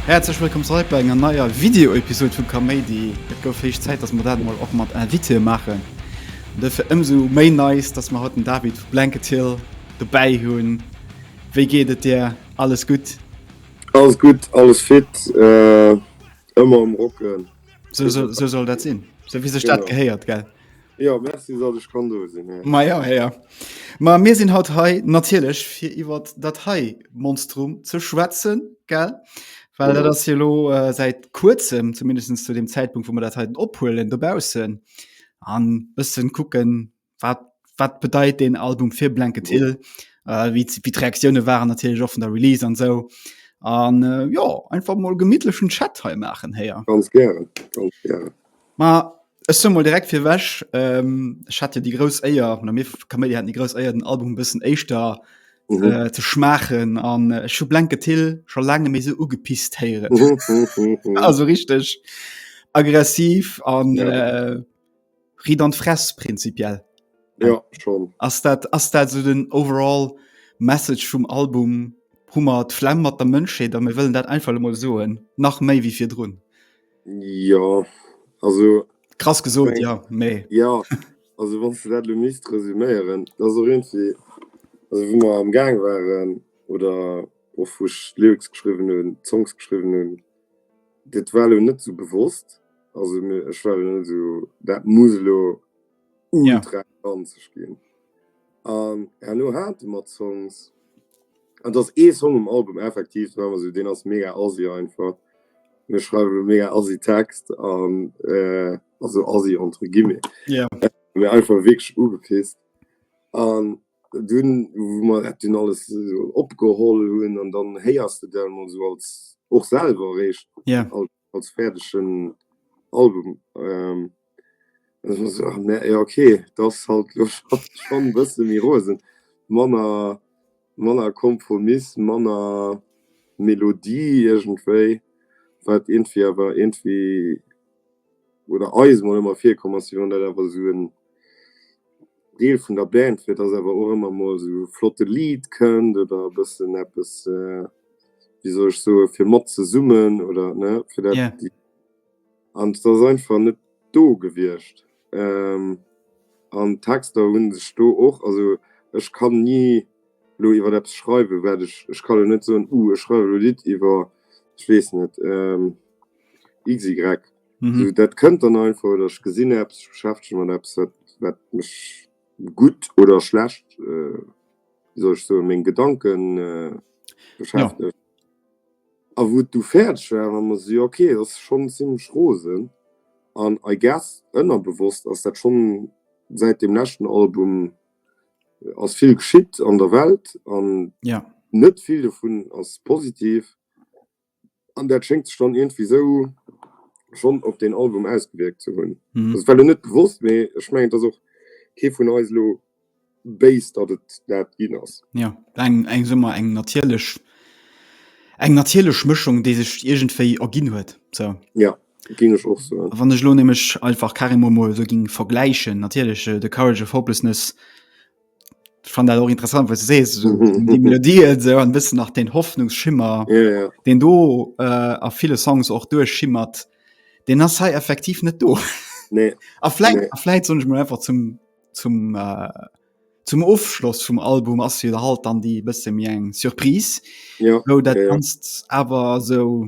Häerzlech wëllkomm zeréck bei enger neier Video-Episod vu Kaméidi. Et gouf héich Zäit, datt mer dat emol och mat Invitée maachen. Duerfir ëmsou méi nice, datt mer haut den David vu Blanket Hill dobäi hunn. Wéi geet et dir? Alles gutt? Alles gutt, alles fit, ëmmer um Rocken. So, so, so soll dat sinn. So wie sech dat gehéiert gell. Ja Merci dat ech kann do sinn. Ma ja ja. Ma mir sinn haut hei natierlech fir iwwer dat hei Monstrum ze schwätzen gell. Well dat ass hilo äh, säit kuerzem zumindest zu dem Zäitpunkt, wo man dat heiten ophuelen dobausen an bëssen kucken, wat wat bedeit den Album fir Blanket Hill äh, wie wie d'Reaktioune waren natierlech och vun der Release an sou an äh, jo einfach mol gemittlechen Chat hei maachen héier. Ganz gären, ganz gären. Ma ech soe mol direkt fir ewech, ähm, ech hat jo déi grouss Éier oder mir Kaméidi haten déi grouss Éier den Album e bëssen éischter Mhm. äh, ze schmaachen an äh, ech hu Blanket Hill scho laange méi sou ugepisst héieren. Mhm, mhm, mhm. also richtig aggressiv an Ja. äh, Riit an d'Fress prinzipiell. Ja, schon. Ass dat, ass dat so den overall Message vum Album? Hummer d'Flemm mat der Mënschheet a mir wëllen dat einfach emol soen, nach méi wéi virdrun. Ja, also. Krass gesot, ja, mee. Ja, also wann du dat lo misst resüméieren, dat ass och iergendwéi, also wou mer am Gaang waren oder och wou ech d'Lyrics geschriwwen hunn, d'Songs geschriwwen hunn, Dat war elo net sou bewosst, also ech war elo net sou, dat muss elo ultra ranzeg ginn. An herno hate mer Songs, an et ass ee Song um Album effektiv, deen ass esou, deen ass mega assi einfach, mir schreiwe elo mega assi Text an, also assi entre guillemets, mee einfach wierklech ugepisst. An Dunn wou mer dat dunn alles esou opgeholl hunn an dann héiers de dat emol esou als, och selwer eréischt, als fäerdegen Album. An ech mer esou, ah mä jo ok, et ass halt elo schonn e bësse méi rosen, manner, manner Kompromiss, manner Melodie iergendwéi, wat iergendwéi awer iergendwéi. oder eis mol ëmmer virkomm ass, wéi wann dat awer esou en Deel vun der Band wier, dass awer och ëmmer mol esou e flotte Lidd kënnt oder e bëssen eppes, wéi soll ech soen, fir mat ze summen oder, ne, fir dat. Yeah. An et ass einfach net do gewiescht. An d'Texter hu sech do och, also ech kann ni elo iwwer eppes schreiwen, wat ech, ech kann elo net soen, uh ech schreiwen elo e Lidd iwwer, ech weess net, Easy Greg. Mhm. So, dat kënnt dann einfach oder ech gesinn Apps, ich beschäftege mat Apps, wat, wat mech gut oder schlecht, äh, wie soll ich so meng Gedanken äh, beschäftigt. Ja. A wo du fertig war, war man so, okay, das ist schon ziemlich rosen. An I guess ënnerbewusst ass dat schon seit dem letzten Album äh, ass viel geschitt an der Welt an ja. net viel davon ass positiv. An dat schéngt sech dann iergendwéi esou schonn op deen Album ausgewierkt ze hunn. Et war elo net bewosst, mee ech mengen, et ass och kee vun eis elo béis, datt et dat ginn ass. Jo, eng eng, soe mer, eng natierlech, eng natierlech Mëschung, déi sech iergendwéi erginn huet, sou. Jo, géing ech och soen. A wann ech elo nämlech einfach carrément emol esou géing vergläichen, natierlech, de Courage of Hopelessness, Ich fand auch interessant was du sees so, die Melodie so ein bisschen nach den Hoffnungsschimmer ja, ja. den do äh, a viele Songs auch durchschimmert den das sei effektiv net do nee. vielleicht, nee. vielleicht so mal einfach zum zum äh, zum Aufschluss vom Album as wieder halt dann die beste mir eng Surprise ja, wo dat ja, kannst ja. aber so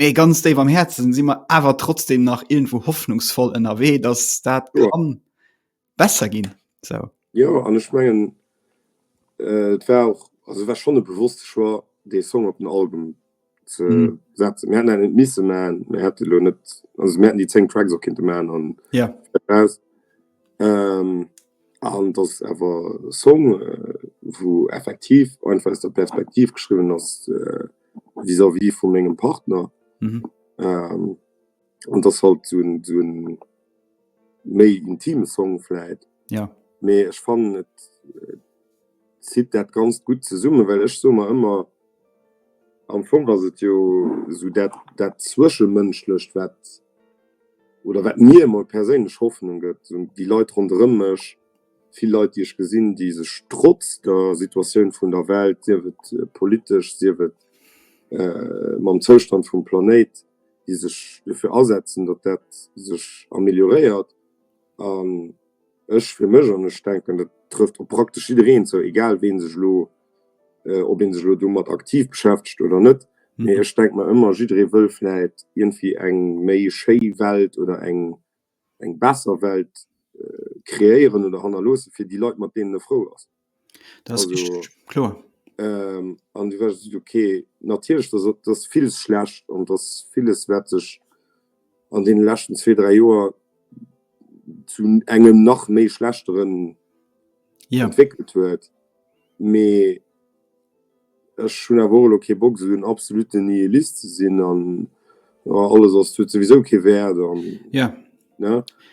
Mee ganz déif am Häerzen si mer awer trotzdem nach irgendwo hoffnungsvoll ënnerwee, dass dat jo. kann besser ginn. So. Jo an ech mengen äh, et war och also war schon e bewusste Choix dee Song op den Album ze mm. setzen. Mir hätten net misse man mir hätte lo net also mir hätten die 10 Tracks op kindnte man an ja. Yeah. Ähm, an das awer Song äh, wo effektiv einfach der Perspektiv geschrieben ass. Äh, vis à vis vu mengem Partner mhm. ähm, und das halt so ein, so ein méi intime Song vielleicht ja me ich fand äh, zieht dat ganz gut zu summe weil ich so mal immer am Fong was het jo so dat dat zwischenmënschlecht wat oder wat mir mal persinnlech Hoffnung gëtt die Leute rondrëmmech Vill Leit, déi ech gesinn, déi sech trotz der Situatioun vun der Welt, sief et politesch, sief et mam Zoustand vum Planéit, déi sech dofir asetzen, datt dat sech amelioréiert. An ech fir mech, an ech denken, dat trëfft op praktesch jiddereen zou, egal wee sech elo, ob ee sech elo domat aktiv beschäftegt oder net, mee ech denke mer ëmmer, jidderee wëll vläicht iergendwéi eng méi schéi Welt oder eng, eng besser Welt kreéieren oder hannerloossen, fir déi Leit, mat deenen e frou ass. Dat ass richteg, kloer. An du wärst esot, ok, natierlech, dass et, dass villes schlecht an dass villes, wat sech an deene leschten zwee, dräi Joer zu engem nach méi Schlechteren entwéckelt huet, mee Ech hunn awer och elo kee Bock, esou en absolutten Nihilist ze sinn an alles ass huet souwisou kee Wäert an ne,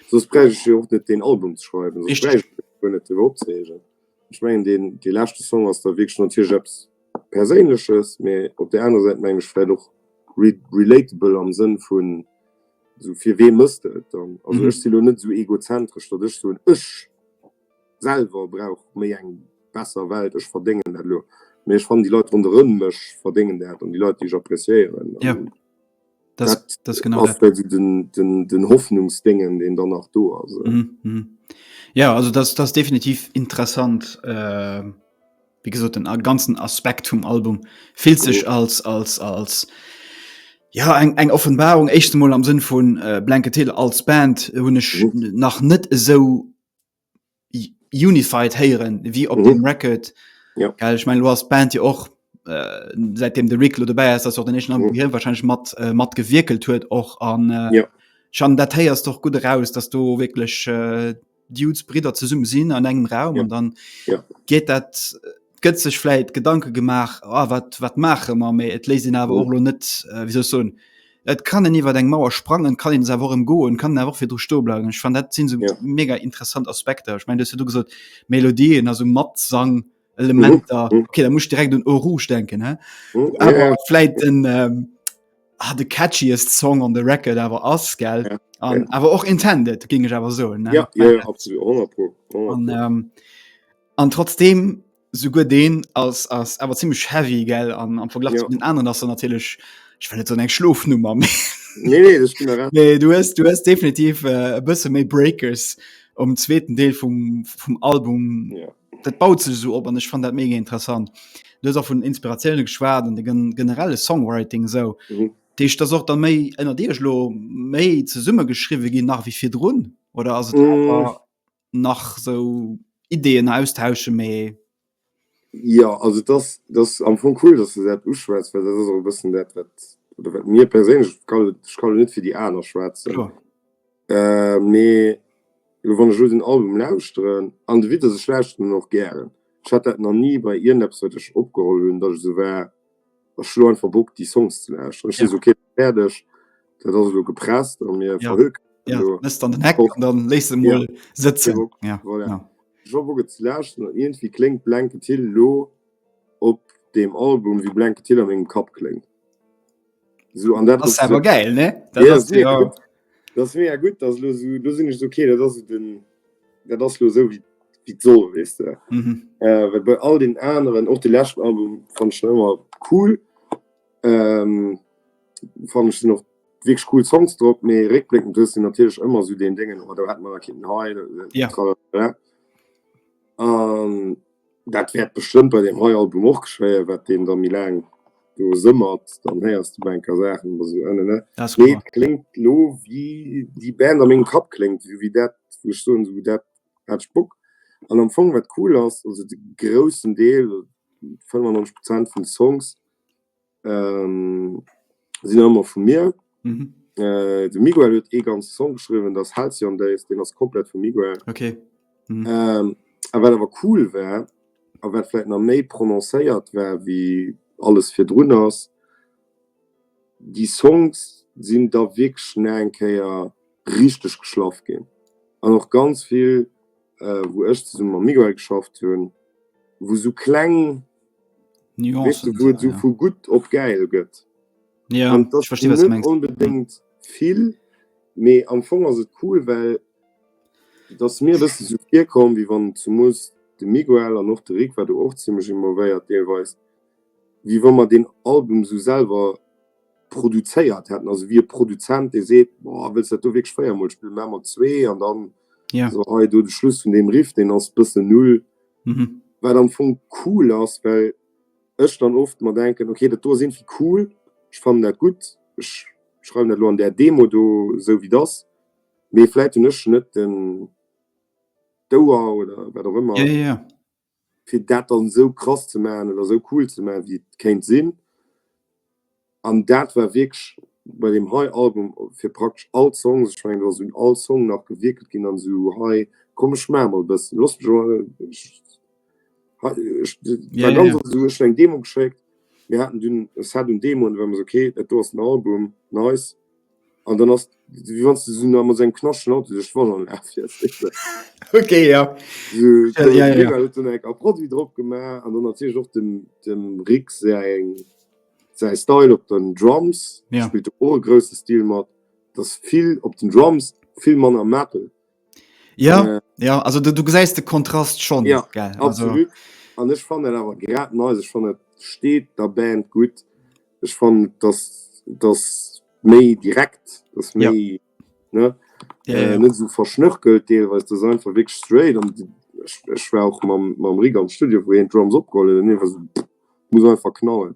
soss bräicht ech jo och net deen Album ze schreiwen, soss bräicht ech mech guer net driwwer opzereegen. Ech mengen, deen dee leschte Song ass da wierklech natierlech eppes Perséinleches, mee op där anerer Säit mengen ech vläicht och relatable am Sënn vun esou fir wee mëss de et dann? Also ech si elo net esou egozentresch, datt ech soen, ech Selwer brauch méi eng besser Welt. Ech verdéngen dat elo, mee ech fannen déi Leit ronderëm mech verdéngen dat an déi Leit déi ech appréciéieren. Ja, dat, dat ass ass genau dat. Esou den, den, den Hoffnungsdéngen deen dann nach do ass. Ja, also dat, dat ass definitiv interessant. Äh, wéi gesot den ganzen Aspekt vum Album fillt sech als, als, als ja eng, eng Offenbarung. Éischt emol am Sënn vun äh, Blanket Hill als Band hunn ech nach net esou unified héieren wie op mhm. dem Record ja. Geil, ich mein, du hast Band ja och äh, seitdem de Rick lo dabei ist, den nächsten Album mhm. wahrscheinlich mat äh, mat gewickelt huet och an äh, ja. schon dat heiers doch gut raus, dass du wirklich äh, Dudes Brider ze summen sinn an engem Raum ja. und dann ja. geht dat äh, gëtt sech vläit Gedanke gemaach, ah, wat, wat maache mer, mee et léisst een awer och lo net, äh, wéi soll ech soen, et kann en iwwer eng Mauer sprangen, et kann een se awer och emgoen, et kann een awer och virdru stoe bleiwen. Ech fand, dat sinn esou Ja. mega interessant Aspekter. Ech mein, du hues jo du gesot, Melodien, also Matsang, Elementer, Mhm, mhm. okay, da muss ech direkt un Eau Rouge denken, hä? Hm, ja, awer ja, vläit den ähm, ah, de catchiest Song on the record awer ass, gell? Ja, An ja. awer och intended, géing ech awer soen. ne? ja, ja, ja, absolut, 100 pro, 100 An pro. ähm, An trotzdem souguer deen ass ass awer ziemlich heavy gell an am Verglach ja. den anderen ass er natürlich ich will net so eng Schlofnummer nee, nee, nee, du hast, du hast definitiv äh, bësse méi Breakers um zweiten Deel vum, vum Album ja. dat baut ze so op an ich fand dat mega interessant. Du auch vun Inspirationune geschwaad an de generelle Songwriting so. Mhm. Dich das auch dann méi ënner Dir lo méi ze summe geschriwe ginn nach wie fir Drun oder as. Mhm. nach sou Ideen austauschen mee. Ja also dass dass am Fong cool dass de dat uschwätz, well dat ass och e bëssen dat wat oder wat mir perséinlech, ech kann elo net fir déi aner schwätzen, mee elo wann ech elo den Album lauschteren an de Widder, ech lauschteren en och gären, ech hat dat nach ni bei iergendeppes wat ech opgeholl hunn, datt ech esou war, Ech hu lo einfach Bock déi Songs ze lauschteren. Ech sinn esou kee fäerdeg, dat ass elo gepresst a mir verhökert. Ja, misst an den Heck an dann léiss se mol sëtzen. Ja, voilà. Ech hu Bock et ze lauschteren an iergendwéi kléngt Blanket Hill elo op deem Album wéi Blanket Hill a mengem Kapp kléngt. Esou an dat ass. Ass awer gäil, ne? Dat ass jo. Dat ass mega gutt, dat ass elo esou, do sinn ech esou, okay, dat ass esou den, dat ass elo esou wéi wéi et soll, weess de. Mhm. Äh, well bei all den aneren, och de leschten Album fand ech schon ëmmer cool. Ähm, fand ech sinn och wierklech cool Songs drop, mee réckbléckend hues de natierlech ëmmer esou deen Déngen, oh do hätte mer nach kitten hei, Ja. tralala. An Dat wäert bestëmmt bei deem hei Album och geschéien, wat deen da méi laang do sëmmert, dann héiers de bei en Kéier Saachen oder sou, ënne ne. Mee et kléngt elo wéi déi Band a mengem Kapp kléngt, esou wéi dat, wou ech soen, esou dat hat ech Bock. An am Fong, wat cool ass, also de groussen Deel, 95 Prozent vun de Songs, Sinn nach ëmmer vu mir. De Miguel huet ee ganze Song geschriwwen, dat ass Halcyon Days, deen ass komplett vum Miguel. A wat awer cool war a wat vläicht nach méi prononcéiert war wéi alles virdrun ass, déi Songs sinn da wierklech nach eng Kéier richteg geschlaff ginn an och ganz vill, wou ech zesumme mam Miguel geschafft hunn, wou esou kleng. Nuancen wou et sou vu gutt op gäil gëtt an et ass net onbedéngt vill, mee am Fong ass et cool, well et ass mir e bëssen sou virkomm, wéi wann zemoos de Miguel an och de Rik war do och zimmlech involvéiert deelweis, wéi wa mer deen Album sou selwer produzéiert hätten, also wéi e Produzent dee seet, boah wëlls dat do wierklech véiermol spillen, maache mer zwee an dann sou hei do de Schluss vun deem Riff, deen ass bëssen null. Wat am Fong cool ass, well ech dann oft mer denken, okay, dat do ass irgendwie cool, ech fannen dat gutt, ech schreiwen dat lo an där Demo do esou wéi et ass, mee vläit hunn ech net den d'Ouer oder wat och ëmmer, fir dat dann esou krass ze maachen oder esou cool ze maachen, wéi et kéint sinn. An dat war wierklech bei deem hei Album fir praktesch all Songs, ech mengen do ass un all Song nach gewierkelt ginn an esou hei, komm ech maache mol e bëssen, looss mech emol ech war ganz oft esou, ech hunn eng Demo geschéckt, mir haten dunn e Set un Demoen, da war mer esou, okay dat do ass den Album, nice. An dann ass wéi wann s de esou nach mat esou engem knaschtegen Auto duerch d'Wannerlag fiers, weess de. Ok, ja. Esou, Ja, ja, ja. d'Mira huet dunn eng Kapp Produit drop gemaach an dann natierlech och dem, dem Rick säin, säi Style op den Drums. Ja. Spillt do och e grousse Stil mat. 't ass vill op den Drums, vill manner Metal. Ja äh, ja also du, du gesäist de Kontrast schon ja, gell? Absolut an ech fan net awer grad ne ech fan net steet der Band gut ech fan dat dat méi direkt dat méi ja. ne ja, äh, ja. net so verschnörkelt deel was du sein verweg straight an ech war auch mam mam Ri am Studio wo en Drums opgolle ne was muss einfach knallen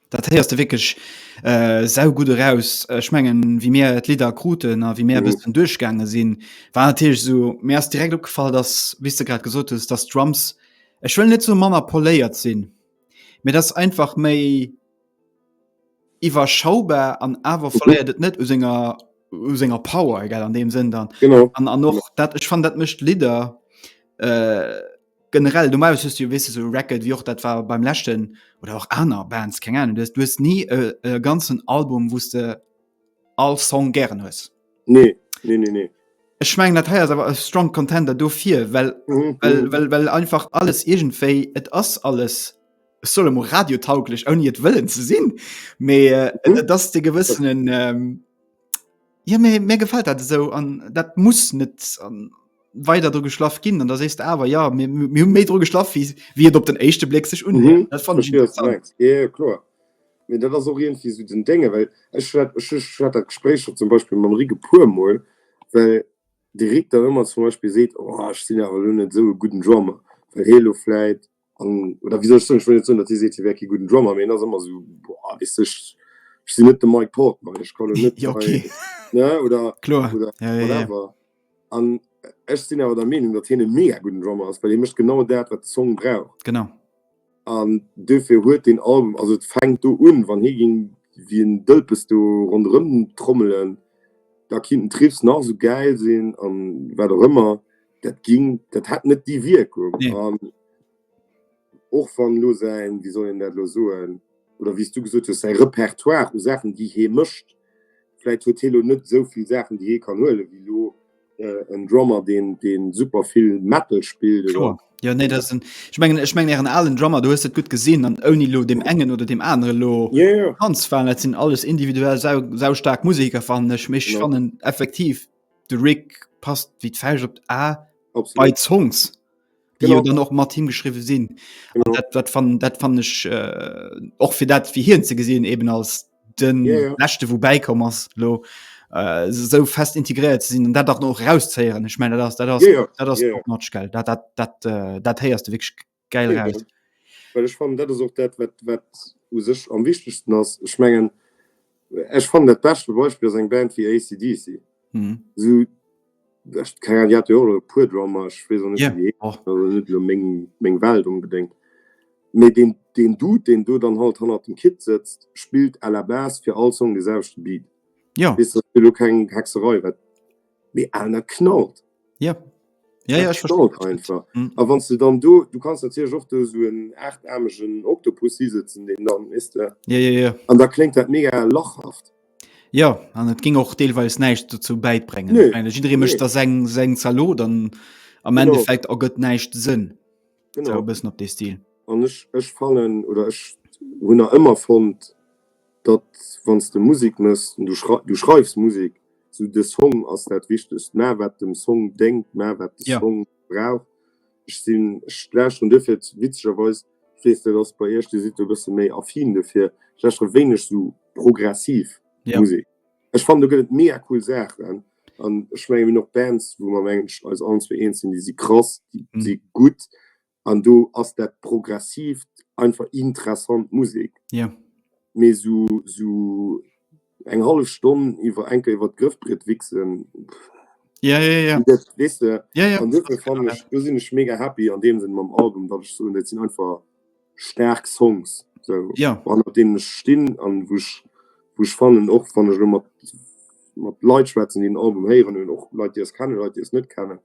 Dat héiers de wierklech sau gutt eraus. Ech mengen, wéi mir d'Lidder kruten a wéi mir e bëssen duerchgaange sinn, war natierlech esou, mir ass direkt opgefall, datt, wéi s de grad gesot hues, datt d'Drums, ech wëll net soe manner poléiert sinn, mee datt einfach méi iwwerschaubar an awer verléiert et net u senger, u senger Power, egal an deem Sënn dann. An och dat, ech fannen, dat mécht d'Lidder. Generell normalerweise hues du jo wisse so Racket wie och dat war beim leschten oder och aner Bands keng Ahnung du hues nie e, e ganzen Album wusste all Song gären hues. Nee, nee, nee, nee. Ech mengen dat heiers awer e strong Contender dofir, well, mm -hmm. well, mhm. well, well einfach alles irgendwéi et ass alles solle mo radiotauglech ouni et wëllen ze sinn. Mee äh, mhm. dass de gewëssenen. Ähm, Ja mir, mir gefällt dat esou an dat muss net an weider dru geschlaff ginn an da sees de awer ja mir hunn méi dru geschlaff wie wie et op den éischte Bléck sech un mhm. dat fand ja, klar mir dat ass orient wie so den Dinge well ech hat dat Gespräch schon zum Beispiel man Rige pur moll well direkt da immer zum Beispiel seet oh, ich sinn awer net so guten Drammer well heloläit An, oder wéi soll ech soen, ech wëll net soen, datt hie seet, hie wär kee gudden Drummer, mee en ass ëmmer esou, boah, weess de, ech sinn net de Mike Portnoy, ech ka lo net hei, ne, oder whatever. An ech sinn awer der Meenung, datt hien e mega gudden Drummer ass, well hie mécht genau dat, wat de Song brauch. Genau. An dofir huet deen Album, also et fänkt do un, wann hie géing wéi en Dëlpes do ronderëm trommelen, da kinnt den Triffs nach esou gäil sinn an wat och ëmmer. Dat ging, dat hat net déi Wierkung. Nee. An och wann lo säin, wéi soll een dat lo soen, oder wéi s du gesot hues, säi Repertoire u Saachen, déi hee mécht, vläit huet hee lo net esou vill Saachen, déi hee kann huelen, wéi lo äh, en Drummer, deen, deen super vill Metal spillt oder Kloer. Ja, nee, das sind, ich meine, ich meine, ihren allen Drummer, du hast das gut gesehen, an ohne lo dem engen oder dem anderen lo Ja, ja. ganz fallen, das sind alles individuell sau, sau stark Musiker, fand ich, mich Genau. fanden effektiv de Rick passt wéi d'Fäischt op d'A bei Songs dann och mat him geschriwe sinn dat fan dat fan ech och äh, fir dat fir hien ze gesinn eben als den yeah, yeah. nächte wo beikom ass lo äh, so fest integriert ze sinn dat dach noch rauszeieren ich meine dat dat yeah, yeah. matgel dat dat dat äh, dat héiers de wg Geil nee, raus. Well ech fan dat ass och dat wat wat u sech am wichtegsten ass. Ech mengen ech fan dat beschte Beispiel ass eng Band wie ACDC. Mhm. So, kann ja pur Drammer meng Welt unbedingt mit den den du den du dann halt han dem Kit sitzt spielt à la base für all Song die selbst Beat ja. ist du kein Hexerei wat Mee aner knallt. Ja. Ja, ja, a wann du dann do du kannst erzäh och du so en aartarmegen Oktopus siesetzen den dann is der ja, ja, ja. an da klingt dat mega lachhaft ja an et ging och deelweis neicht dazu beibrengen nee. meine, nee. mecht da seng seng Zalo dann am genau. Endeffekt er gött neicht sinn bis op de Stil an ech ech fannen oder ech hun er ëmmer fond Datt wann s de Musek méchs, du schreifs Musek, sou de Song ass dat Wichtegst, mä wat dem Song déngt, mä wat de Song brauch. Ech sinn, ech lauschteren duerfir, witzegerweis, ech weess dat ass bei iech, dir sidd do e bësse méi affin duerfir, ech lauschtere wéineg sou progressiv Musek. Ech fannen do gëtt et mega cool Saachen an ech mengen mir hunn och Bands wou mer mengen eis allen zwee eens sinn, déi si krass, déi si gutt, An do ass dat Progressiivt einfach interessant Musek. Jo. Mee sou, sou eng hallef Stonn iwwer enker iwwer d'Grëffbriet wichsen, pff. Ja, ja, ja. An dat, weess de? Ja, ja. An duerfir fannen ech, do sinn ech mega happy an deem Sënn mam Album, datt ech soen, dat sinn einfach staark Songs sou. Jo. Hannert deenen ech stinn an wou ech, wou ech fannen, och wann ech elo mat, mat Leit schwätzen, déi den Album héieren hunn, och Leit, déi eis kennen, Leit, déi eis net kennen,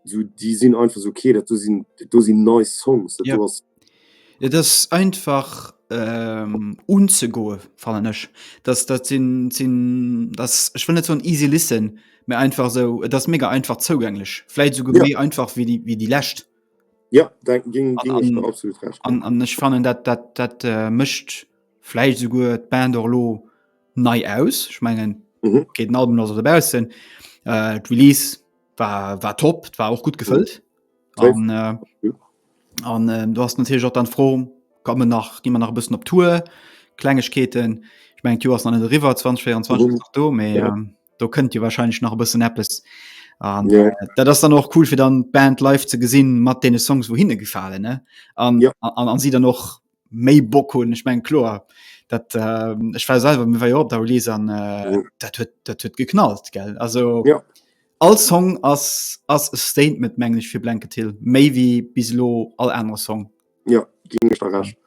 so déi sinn einfach so okay dat do sinn do sinn nei Songs dat do ass. Ja dat ass einfach ähm, unzegoe fannen ech dat dat sinn sinn dat ass ech wëll net soen easy listen mä einfach esou et ass mega einfach zougänglech vläit esouguer méi einfach wéi déi wéi déi lescht. Ja dat géng géng ech der absolut recht ginn. An an ech fannen dat dat dat mécht vläicht esouguer d'Band och elo, nei aus ich mengen mhm. geht Album los dabei sind äh, release war war top war auch gut gefüllt an mhm. äh, an äh, du hast natürlich auch dann froh kann man nach die man nach ein bisschen op tour kleinigkeiten ich mein du hast an river 2024 mhm. du mehr ja. ähm, du könnt ihr wahrscheinlich noch ein bisschen app ist ja. äh, da das dann auch cool für dann band live zu gesehen matt den songs wohin gefallen ne an ja. an, an sie dann noch méi Bock hunn. Ech meng kloer dat äh, ech war selwer mir war jo op der Release an äh, mhm. dat huet dat huet geknallt gell. Also ja. all Song ass ass e Statement menglech fir Blanket Hill méi wie bis lo all aner Song. Ja ging ech verrecht.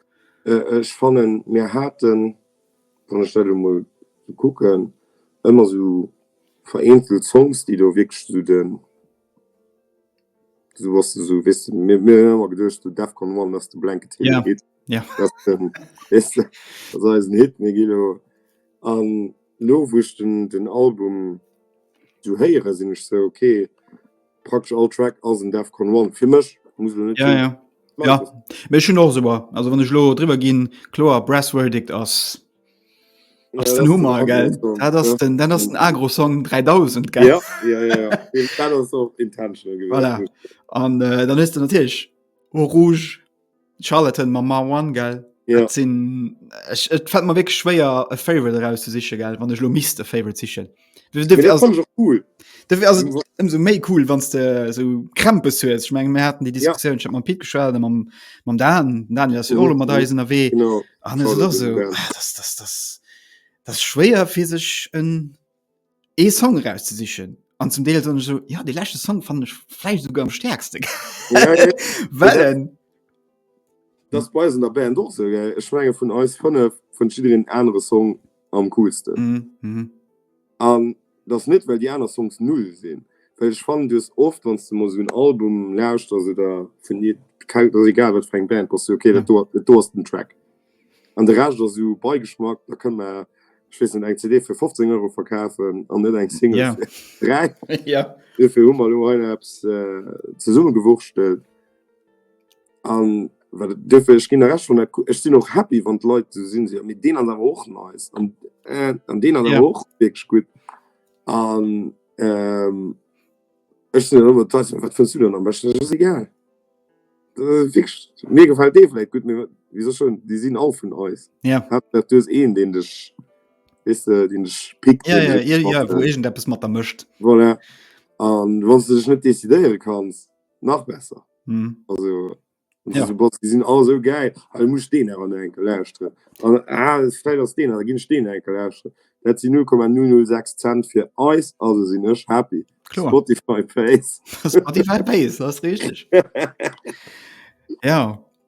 Äh, ech fannen mir haten wann ech dat mol kucken ëmmer so vereenzelt Songs, déi do wierklech zu den du was du so wis mir mir immer gedurcht du def kon man dass du blanket hin ja geht ja das ist das ist ein hit mir gilo an lo wuschten den album du heiere sinn ich so okay praktisch all track aus dem def kon man für michch muss du nicht ja ja ja mir schon och so also wann ich lo drüber gehen klo brass verdict aus Ass den Hummer gell dat ass den dat ass den Agrosong 3000 gell ja, ja, ja, ja. dat ass och intentional gewesen voilà. an äh, dann hues du natierlech o rouge Charlotten ma ma one gell ja. sinn et fällt mer wéi schwéier e Favorite eraus ze siche gell wann ech lo misste Favorite sichchen cool so méi cool wann de so krempe hues ich meng hatten die Diskussion ja. Pi geschwert am man da dann ja so man da sind we das schwer fir sech en e Song raus ze sichchen an zum Deel so, so ja die lechte Song fand ich fle sogar am stärkste ja, ja. well denn das bei der Band so, ich mein, von aus von von anderen Song am coolsten. Mhm, mhm. An das net well die aner Songs null sinn. Well ech fannen dues oft wann du mo so un Album lauscht as oder vun nie egal wat eng Band pass okay dat do do ass den Track. An de recht ass sou beigeschmack da kënn mer schwessen eng CD fir 15 Euro verkafen an net eng Single yeah. fir 3 yeah. Dofir hu mer lo hei apps äh, zesumme gewurschtelt. An well et duerfir, ech ginn der Recht, wann et, ech sinn och happy, wann d'Leit esou sinn, si, mee deen ass awer och nice an an deen ass awer och wierklech gutt an ech sinn dann ëmmer d'Leit, wat fënns du dann am beschten? Ech, ass egal, wierklech, mir gefält dee vläit gutt, mee wéi soch schonn, déi sinn all vun eis. Haaptsaach du hues een, deen dech, weess de, deen dech pickt, deen dech matbréngt. Voilà, an wann s de dech net decidéiere kanns. nach besser mm. also ja. so, die sind alle so geil also, muss den enkel leischten ah, aus den gehen stehen enkel leischten dat sie 0,006 cent für Eis also sind ech happy Klar. Spotify Face Spotify Face das richtig ja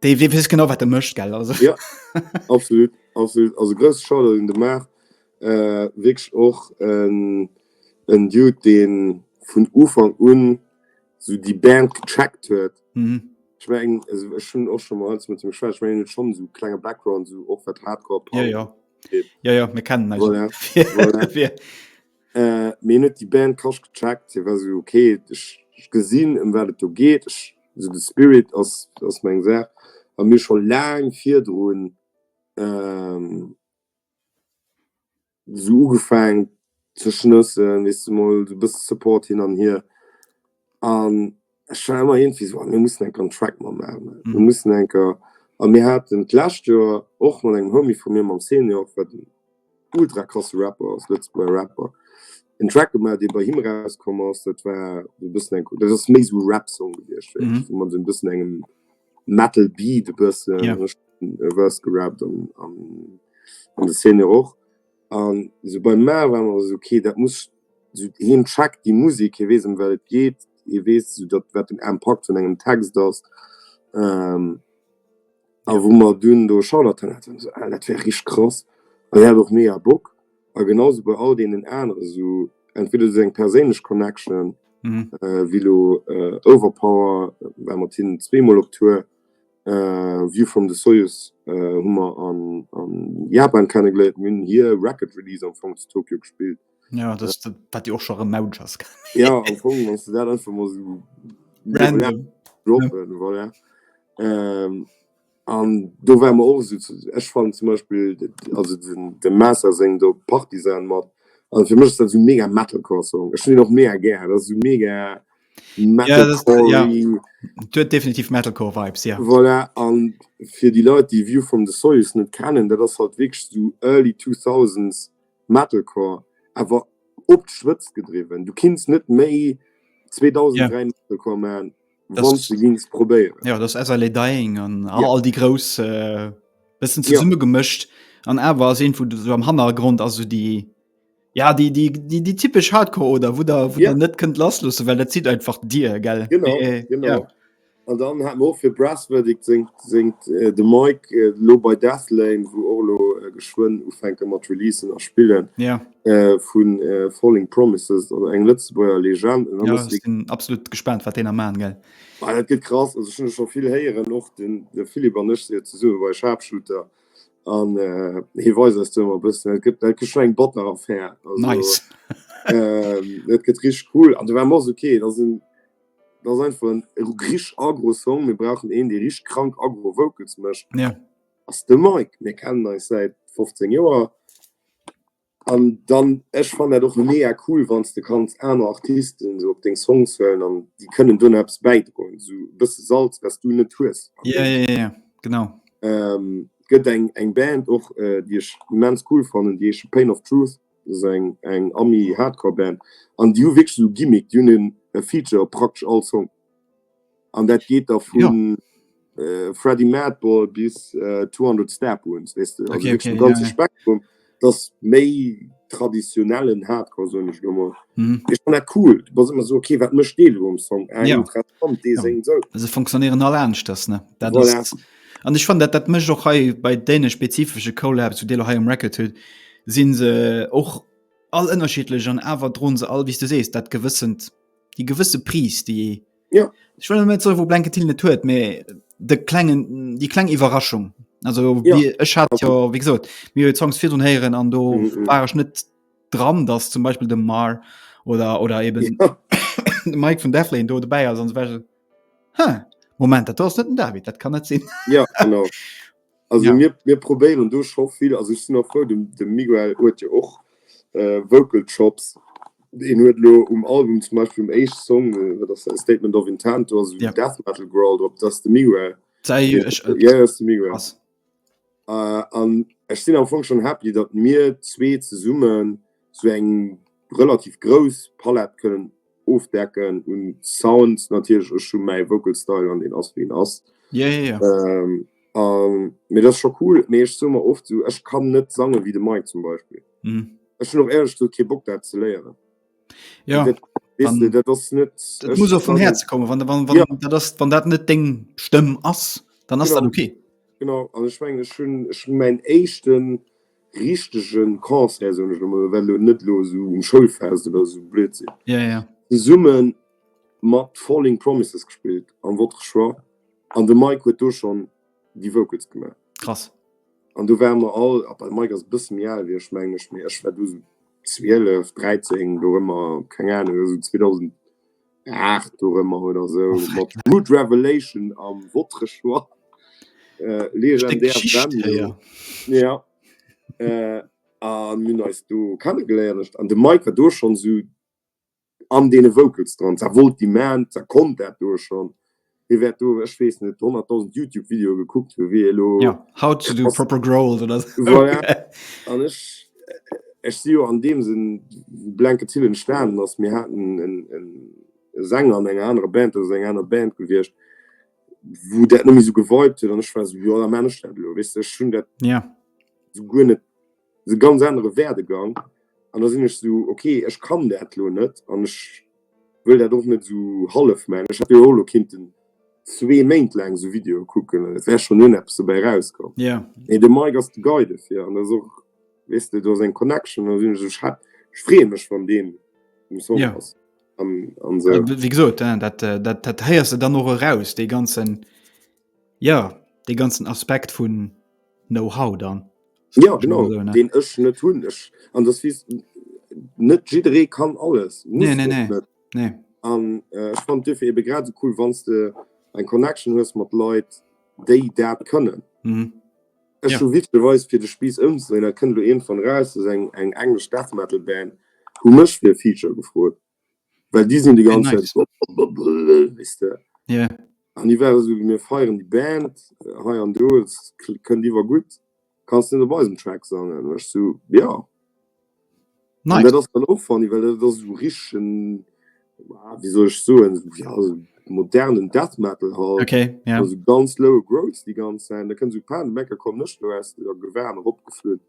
Dei wee wees genau wat de mëscht gell also. Ja absolut absolut also grëss Schader den de Maach äh, wécg och en en Dude deen vun Ufang un sou déi Band gecheckt huet. Mhm. Ich mein, also, ich schon auch schon mal mit dem Schwert, ich mein, schon so kleine Background, so auch was Hardcore. Ja, ja. Ja, ja, wir kennen also, ja. Mir hunn net déi Band Kasch gecheckt, hie war esou, ok, ech gesinn, ëm wat et do geet, ech, esou de Spirit ass, ass meng Saach a mir scho laang virdrun esou ugefaangen ze schnëssen, weess de, mol esou e bësse Support hin an hier. an ech war ëmmer iergendwéi esou, ah mir mussen enker en Track mer maachen, ne, mir mussen enker. A mir haten d'lescht Joer och mat engem Homie vu mir, mam Senior, wat en ultra krasse Rapper ass, Lëtzebuerger Rapper, en Track gemaach, dee bei him erauskomm ass. Dat war e bëssen eng, dat ass méi esou e Rap-Song gewiescht, wéi ech mat esou e bëssen engem Metal-Beat e bëssen, e bëssen Verse gerappt an an de Senior och. An esou beim Mao war mer esou, okay, dat muss, esou hien checkt déi Musek, hie weess ëm wat et geet, hie weess esou dat wat den Impakt vun engem Text ass. A wou mer dunn do Charlotten haten, war esou, ah dat wär richteg krass. An hien hat och mega Bock. A genau esou bei all deenen anere esou, entweder esou eng perséinlech Connection wéi elo Overpower, war mat hinnen zweemol op Tour, Viewfrom the Soyuz hu mer a Japan kennegeléiert, mir hunn hir Record Release am Fong zu Tokio gespillt. Ja dat wat jo och scho rem Mautsch ass. Ja am Fong wann s de dat einfach mol esou random droppen, voilà. An do ware mer och esou, ech fannen zum Beispill also dem Master seng do Partisan mat, also fir mech ass dat esou mega Metalcore Song, ech hunn deen och mega gär, dat ass esou mega. Metalcore, ja, huet definitiv Metalcore Vibes, ja. Voilà, an fir déi Leit déi View from the Soils net kennen, dat ass halt wierklech sou early 2000s Metalcore, awer op d'Spëtzt gedriwwen. Du kinns net méi 2003 Metalcore man, wanns de gings probéieren. Ja, dat ass As I Lay Dying an all déi grouss bëssen zesummegemëscht an awer ass iergendwou sou am Hannergrond ass sou déi. Ja déi déi déi déi typesch Hardcore oder wou der wou yeah. der net kënnt lasslussen, well dat zit einfach Dir gell genau, äh, äh, genau. Ja. An dann hat och fir Brasswürdig singt, singt äh, de Mike äh, lo bei Deathlane, wou Orlo äh, geschwënn ufänke mat Releasen a Spillen yeah. äh, vun äh, Falling Promises oder eng Lëtzebuerger Legend. Ja, ich bin absolut gespannt, wat den am Mann gell. Ah, dat gëtt krass, also schon schon vill héieren och den, den Philipp an ech se ze summe bei Sharpshooter. Äh, an hie weist eis do ëmmer e bëssen. Et gëtt, et gëtt schon eng batter Affär. Also, Nice. äh, et gëtt richtig cool. An du war mors okay, das sinn das ist einfach ein richtig agro Song. Wir brauchen een, der richtig krank agro Vocals mécht. Ja. Ass de Mike. Mir kennen eis seit 15 Joer. An dann ech fannen dat och mega cool, wann s de kanns aner Artisten esou op deng Songs huelen an déi kënnen do nach eppes bäidroen, esou e bësse Salz, wat s du net hues. Jo, jo, jo, jo, genau. Et gëtt eng eng Band och, déi ech immens cool fannen, déi heesche Pain of Truth, dat ass eng eng Ami-Hardcore-Band an déi hu wierklech esou Gimmick, déi hunn e Feature op praktesch all Song. An dat geet da vu Freddy Madball bis 200 Step Wounds, weess de, also wierklech de ganze Spektrum. Et ass méi traditionellen Hardcore, soen ech elo mol. Mee ech fann dat cool. Du bass ëmmer esou, ok, wat mécht dee elo um Song? Ah, interessant, dee séngt esou. Se funktionéieren all aneschters, ne? Dat ass et. An ech fannen, dat dat mécht och hei bei deene spezifesche Collabs, wou Dir elo hei um Record hutt, si se och all ënnerschiddlech an awer droen se all, wéi s du sees, dat gewëssent die gewisse Pries die ja. ich will net so wo blanke Till net huet me de klengen die kleng Iwerraschung also ja. wie ech hat okay. ja wie gesot mir Songs fir hun heieren an do mm -hmm. war ech net dran dass zum Beispiel de Mar oder oder eben ja. Mike von Deflin do dabei also, Moment dat net David dat kann net sinn ja, Also ja. mir, mir probéieren do scho vill also ich sinn noch froh dem, dem Miguel huet jo och äh, Vocal Chops en huet lo um Album zum Beispiel um Eich Song äh, das Statement of Intent also ja. Death Metal Growl drop dass de Miguel Sei, ich, ich, äh, ja, de Miguel äh, an Ech sinn am Fong schon happy dat mir zwee ze summen zu so eng relativ grouss Palett kënnen ofdecken un Sound natierlech ech hu mäi Vocal Style an deen ass wéi en ass. Ja, ja, ja. Ähm, ähm, mir das schon cool, mir ich so mal oft so ich kann net sange wie de Mike zum Beispiel. Mhm. Ech hun och ehrlich so ke Bock dat ze léieren. Ja. Dat, weißt du, dat ass net, dat muss auch vum Herz kommen wann, wann, wann, ja. dat ass, wann dat net deng Stëmm ass, dann ass genau. dat okay. Genau an ich mein, ich hun ich mein echten richtegen Concert soen ech lo mol, well elo net elo esou um Schoulfest oder esou Blödsinn, yeah, yeah. zesummen mat Falling Promises gespillt am Votre Choix an de Mike huet do schon déi Vocals gemaach. Krass. An do waren mer all, ab Mike ass e bësse méi al wéi ech mengen ech, mee ech war do esou 12, 13 do ëmmer, keng Ahnung, esou 2000. 8 dorëmmer oder esou oh, mat Good Revelation am Votre Choix äh, legendär ja äh, an min eist du kennen geléiertcht an de Miker do schon so an dee Vocals dran wollt die man zer kommt dat do schon. Dir wäert do, ech weess net, 100.000 YouTube-Videoe gekuckt hunn, wéi ee lo. Ja, how to do proper growled oder esou. Voilà. An ech, ech si jo an deem Sënn Blanket Till entstanen ass. Mir haten en, en Sänger an enger anerer Band, dat ass eng aner Band gewiescht, wou dat net méi esou gewiped huet an ech war esou, jo, da man ech dat elo, weess de. Ech hunn dat. Ja. Esou guer net. esou ganz anere Werdegang an da sinn ech esou ok ech kann dat elo net an ech wëll dat och net esou hallef man. Ech hätt jo elo kinnten zwee Méint laang esou Videoe kucken an et wär schonn un eppes dobäi rauskomm. Mee de Mike ass de Guy dofir an dat ass och weess de do ass eng Connection an da sinn ech esou ech freeë mech wann deen um Song ass an esou. Wéi gesot dat dat héiers de dann och eraus dee ganzen Jo, dee ganzen Aspekt vun Know-how dann. Ja genau, deen ech net hunn. Ech an dass wéi net jidderee kann alles. Nee, nee, nee, nee. An ech fannt duerfir ebe grad esou cool, wann s de eng Connection hues mat Leit, déi dat kënnen. Ech hu witzeweis, fir de Spiiss ëmzedréinen, dat kënnt elo iergendwann eraus, dass eng englesch Death-Metal-Band hu mech fir e Feature gefrot. Well déi sinn déi ganz Zäit esou blablabla, weess de. Jo. An déi waren esou, mir feieren déi Band hei an do, et kënnt iwwer gutt, kanns net op eisem Track sangen? An ech esou, jo. Nice. An dat ass dann och funny, well dat ass esou richtegen, ah, wéi soll ech soen, ja, esou modernen Death Metal halt. Okay, ja. Esou ganz lowe Growls déi ganz Zäit. Da kënnt esou Panik, Mecker, komm, Nëschterester, Gewan, eropgeflunn.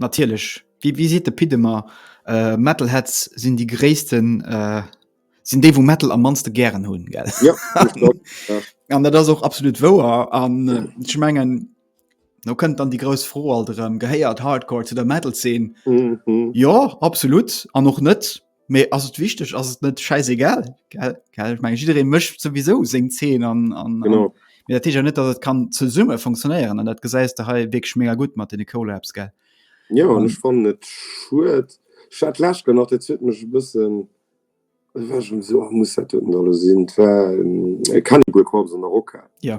Natierlech, wéi wéi seet de Pit ëmmer, Metalheads sinn déi gréissten, sinn déi wou Metal am mannste gären hunn, gell? Jo, dat klopp, jo. An dat ass och absolut wouer an ech mengen, do kënnt dann déi grouss Fro alt erëm, gehéiert Hardcore zu der Metal-Zeen? Jo, absolut an och net. Mee ass et wichteg, ass et net scheißegal, gell? Gell? Ich mein, jidderee mécht sowieso seng Zeen an, an, an Genau. Mee dat heescht ja net, datt et kann zesumme funktionéieren an dat gesäis de hei wierklech mega gutt mat deene Collabs, gell? Jo, an ech fannen et schued. Ech hat d'lescht Kéier nach, dat huet mech e bëssen, ech war schonn esou, ah muss dat doten da lo sinn? Et war e Cannibal Corpse an der Rockhal. Jo.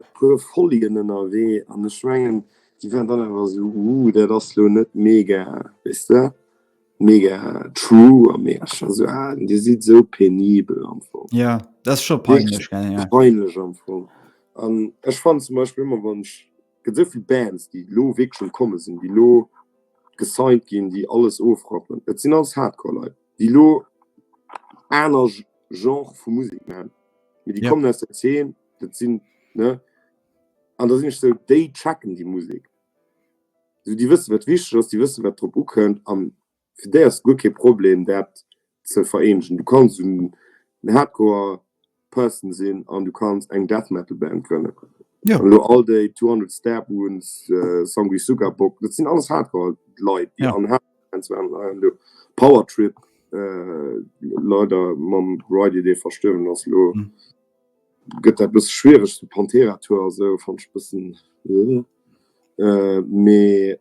e puer Folien ënnerwee an ech mengen déi waren dann awer esou uh dat ass lo net mega weess de mega true a mé ech war esou ah dir sidd esou penibel am Fong. Ja, dat ass scho peinlech, gell, ja. Peinlech am Fong. An ech fannen zum Beispill ëmmer wann ech, et gëtt esou vill Bands déi lo wierklech schon komme sinn, déi lo gesigned ginn, déi alles ofrappen, et sinn alles Hardcore Leit déi lo aner Genre vu Musek maachen, mee déi kommen aus der Zeen dat sinn ne an da sinn ech sou déi checken déi Musek sou déi wësse wat wichteg ass, déi wësse wat drop ukënnt an fir déi ass guer kee Problem dat ze vereenegen. Du kanns un en Hardcore Person sinn an du kanns eng Death Metal Band grënne Jo. lo all déi 200 Stab Wounds, Sanguis Suka Bock, dat sinn alles Hardcore Leit déi an Hardcore Bands waren an hei an do. Power Trip leider mam Ryder dee verstuerwen ass lo Gëtt dat bëssen schwiereg, den Pantera Tour a sou fannt ech bëssen ëh mee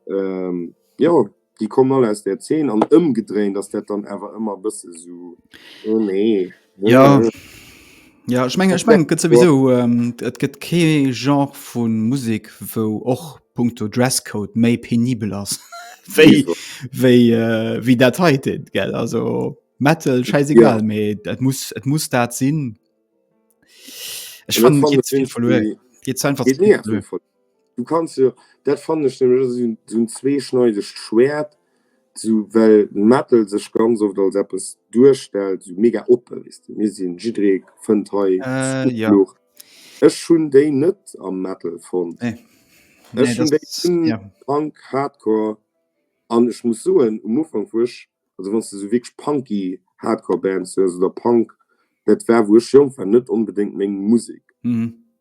jo déi kommen all aus där Zeen an ëmgedréint ass dat dann awer ëmmer bëssen sou oh nee ëh. Jo ech mengen ech mengen et gëtt souwisou et gëtt kee Genre vu Musek wou och punkto Dresscode méi penibel ass wéi wéi dat heiten gell also. Metal scheißegal ja. me et muss et muss dat sinn Ech fan einfach Du kannst ja, dat fan ech hunn zwee schneidecht Schwert zu well Metal sech ganz oft als Appppes duerstellt so mega oppe wis du mir sinn jidré fënnt hei äh, ja. Ech hunn déi net am Metal vun. Äh. Nee, Punk hardcore an ech muss soen um Ufang vuch Also wann s de sou wierklech punky Hardcore Bands hues oder Punk, dat war wou ech jonk war net onbedéngt meng Musek.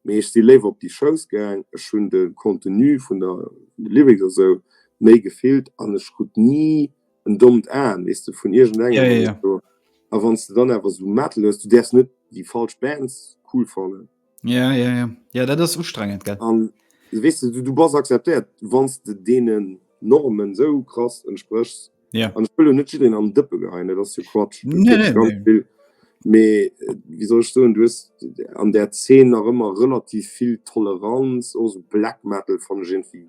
Mee ech si léiwer op déi Shows gaang. Ech hunn de Contenu vun der Lyrics a sou méi gefillt an ech krut ni en dommt Aen, weess de, vun iergendengem oder sou. A wann s de dann awer sou Metal hues, du däerfs net déi falsch Bands cool fannen. Ja, ja, ja. Ja, dat ass ustrengend, gell? An weess de, du bass akzeptéiert, wann de deenen Normen esou krass entspréchs. Ja. An ech wëll lo net jiddereen an den Dëppe geheien, dat ass jo Quatsch. Nee, nee, nee. Ganz vill. Mee wéi soll ech soen, du hues an där Zeen nach ëmmer relativ vill Toleranz, och esou Black Metal fannt ech iergendwéi.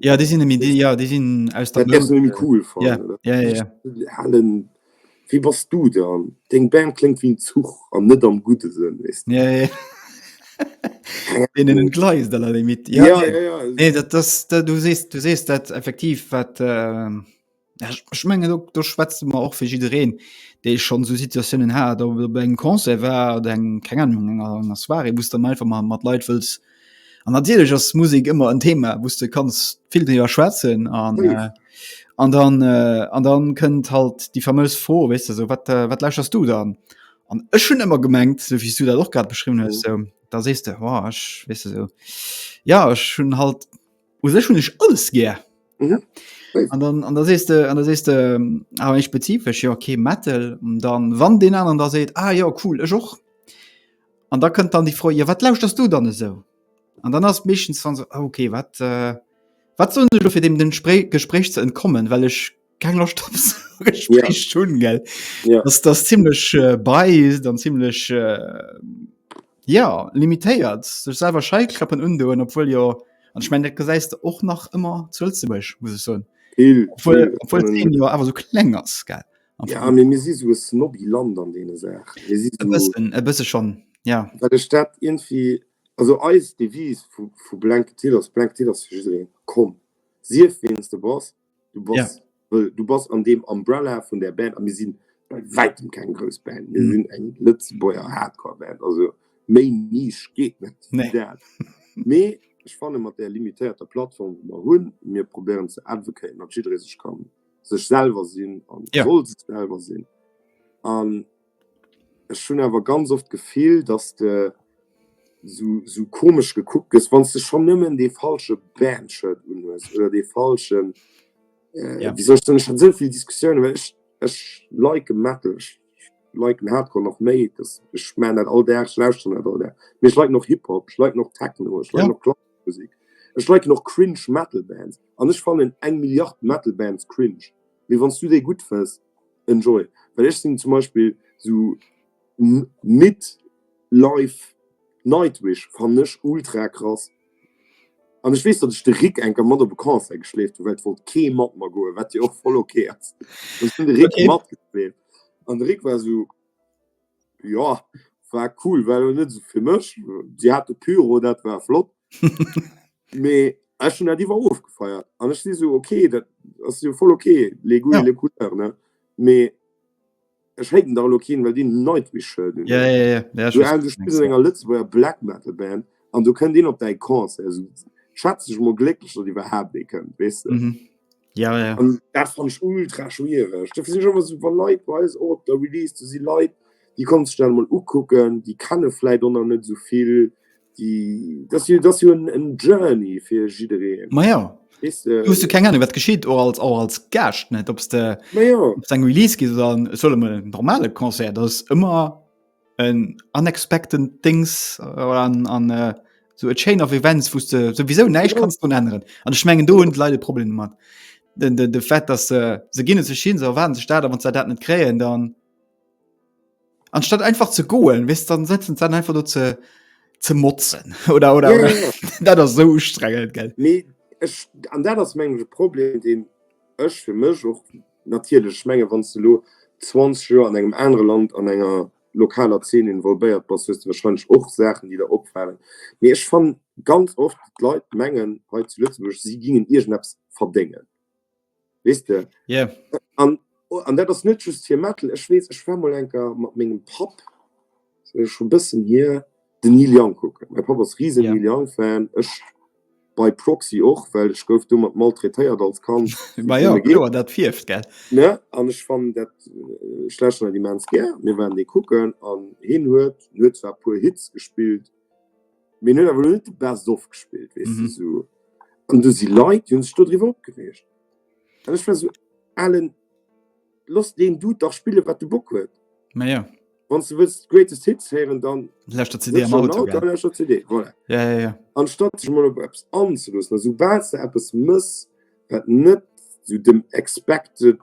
Ja déi sinn méi ja déi sinn aus der cool halen Wie bass du dann Deng Band klingt wéi en Zuch an net am gudde Sënn wees ja, ja. Gleist aller Limit ja, ja, ja, ja. Nee, dat, das, dat, du sees du sees dat effektiv wat. Äh Ech menge do schwätze mer och fir jidereen, dee schonn esou Situatiounen hat, ob et op engem Concert war oder eng keng Ahnung enger enger Soirée, wou s de dann einfach mar mat Leit wëlls an natierlech ass Musek ëmmer en Thema, wou s de kanns vill driwwer schwätzen an an dann an dann kënnt halt déi fameuse Fro, weess de, esou wat wat lauschers du dann? An ech hunn ëmmer gemengt, esou wéi s du dat och grad beschriwwen hues, esou da sees de, oh ech, weess de, esou ja ech hunn halt, U sech hunn ech alles gär. Mhm. An dann an da sees de an da sees de ähm, awer eng spezifesch, jo okay, Metal und dann wann den anderen da seet, ah jo cool, ech och. An da kënnt dann déi Fro, jo wat lauschterst du dann esou? An dann ass meeschtens dann so, ah okay, wat äh, wat sollen ech do fir dem den Spré Gespréich ze entkommen, well ech keng Loscht op esou e Gespréich ze hunn, gell? Ja. Dass das ziemlech äh, biased an ziemlech äh, ja, limitéiert, sech selwer Scheiklappen undoen, obwohl jo an ich mein, dat gesäis du och nach ëmmer zu Lëtzebuerg, muss ich soen. Vill, Obwohl, vill, obwohl ähm, den jo awer so kleng ass, gell? Am ja, Vergleich. mir, mir si so e snobby Land an deene Saach. Mir si E so, bëssen, e bësse schon, ja. well ech dat irgendwie, also eis Devise vu, vu Blanketil ass, Blanketil ass fir jiddereen. Komm, sief weens de bass, Du bass, ja. well, du bass an dem Umbrella vun der Band a mir sinn bei weitem keng grouss Band. Mir mhm. sinn eng Lëtzebuerger Hardcore-Band. Also méi Nisch geet net. Nee. Mee ech fanne mat der limitéierter Plattform wo mer hunn, mir probéieren ze advocaten, dat jidderee sech kann sech selwer sinn an ja. soll sech selwer sinn. An Ech hunn awer ganz oft d'Gefill, dass de sou komesch gekuckt gëss, wann s de schonn nëmmen dee falsche Band-Shirt unhues oder dee falschen. Wéi soll ech soen? Ech hat esou vill Diskussiounen, well ech liken Metal, ech liken Hardcore nach méi. Ech maachen dat all Dag, ech lauschteren dat all Dag. Mee ech liken och Hip-Hop, ech liken och Techno, ech liken och klassesche Musek, ech liken och cringe Metal-Bands. An ech fannen eng Milliard Metal-Bands cringe. Mee wann s du déi gutt fënns, Enjoy, well ech sinn zum Beispill sou midd life. Nightwish fannen ech ultra krass an ech weess datt ech de Rick eng Kéier mat op e Concert geschleeft hunn, well et wollt kee mat mer goen, wat jo och voll ok ass. Ech hunn de Rick matgeschleeft an de Rick war sou. Jo, war cool, war lo net sou fir mech. Si hate Pyro, dat war flott. Mee ech hunn dat iwwer ofgefeiert. An ech si sou, okay, dat ass jo voll okay, les goûts et les couleurs, ne? Mee ech haten dach elo keen, well deen Nightwish-Shirt un hat. Sou, du spills an enger Lëtzebuerger Black-Metal-Band an do kënnt een op däi Concert. Sou, schätz dech mol glécklech, datt iwwerhaapt ee kënnt, weess de? Ja, ja. Und das fand ich ultra schwierig. Dafür sind immer so Leute bei uns auch auf der Release, du sie Leute, die kannst du dann mal angucken, die kennen vielleicht auch noch nicht so viel. Die, das ist das ist ein, ein Journey für jedereen. Ma ja. Weißt du, du hast du keine Ahnung, was geschieht, auch als, auch als Gast, nicht? Ob es ja. ein Release gibt oder ein, soll mal ein normales Konzert, das ist immer en unexpected things an, an äh, so a chain of events wo du sowieso neisch ja. kannst du ändern an ich mengen du und leider problem man de, de, de fett dass äh, se gehen sich hin so waren sich da wann ze dat net kräen dann anstatt einfach zu goen wis dann setzen dann einfach nur ze ze motzen oder oder, ja, oder ja. dat das so strengelt geld nee, an dat das mengge problem den ech für mech och Natierlech, ech mengen, wann s de elo 20 Joer an engem anere Land an enger lokaler Zeen involvéiert bass, hues de warscheinlech och Saachen, déi der opfalen. Mee ech fannen ganz oft, d'Leit mengen hei zu Lëtzebuerg, si gingen iergendeppes verdéngen, weess de. Yeah. An dat ass net just hir Mettel. Ech weess, ech war mol enker mat mengem Papp. Scho bëssen hier den Neil Young kucken. Mäi Papp ass riesen Neil Young Fan, ech by proxy och, well ech gouf domat maltraitéiert als Kand. Ma jo, kloer dat fierft gell. Ne an ech fannen dat, ech lauschteren dat immens gär. Mir waren dee kucken an hien huet, en huet zwar e puer Hits gespillt, mee en huet awer elo net de Best of gespillt weess de esou. An do si Leit déi hunn sech dodriwwer opgereegt an ech war esou, Alen. Loss deen Dude dach spillen wat de Bock huet. Ma jo. Wann s de wëlls Greatest Hits héieren, dann Läscht der CD am Auto, gell? Läscht der CD, voilà. Ja, ja, ja. Anstatt sech mol op eppes anzeloossen, a soubal s de eppes mëss wat net sou dem expected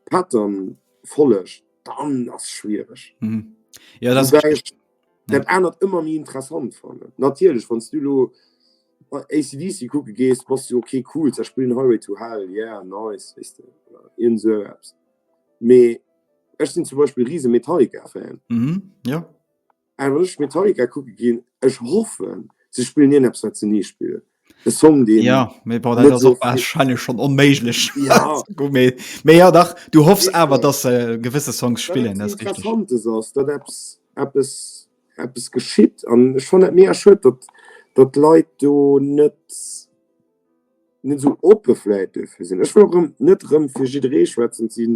Pattern follegt, dann ass et schwiereg. Woubäi ech dat anert ëmmer méi interessant fannen. Natierlech wann s du elo. bei ACDC kucke gees, bass du okay cool, se spillen Highway to Hell, yeah nice, weess de, oder irgend esou eppes. Mee ech sinn zum Beispill riese Metallica-Fan. Mhm, ja. An wann ech Metallica kucke ginn, ech hoffen, se spillen irgendeppes, wat se ni spillen. E Song, deen Ja, mee bon, dat net ass so och viel- wahrscheinlech schon onméiglech. Ja. Gut, mee, mee ja, dach, du hoffs Sicher. awer, dass se gewësse Songs spillen, dat ass richtig. Interessantes ass, dat eppes, eppes eppes geschitt an ech fan dat mega schued, datt datt d'Leit do net net esou oppe vläit dofir sinn. Ech wëll och erëm net erëm fir jidderee schwätzen. Et si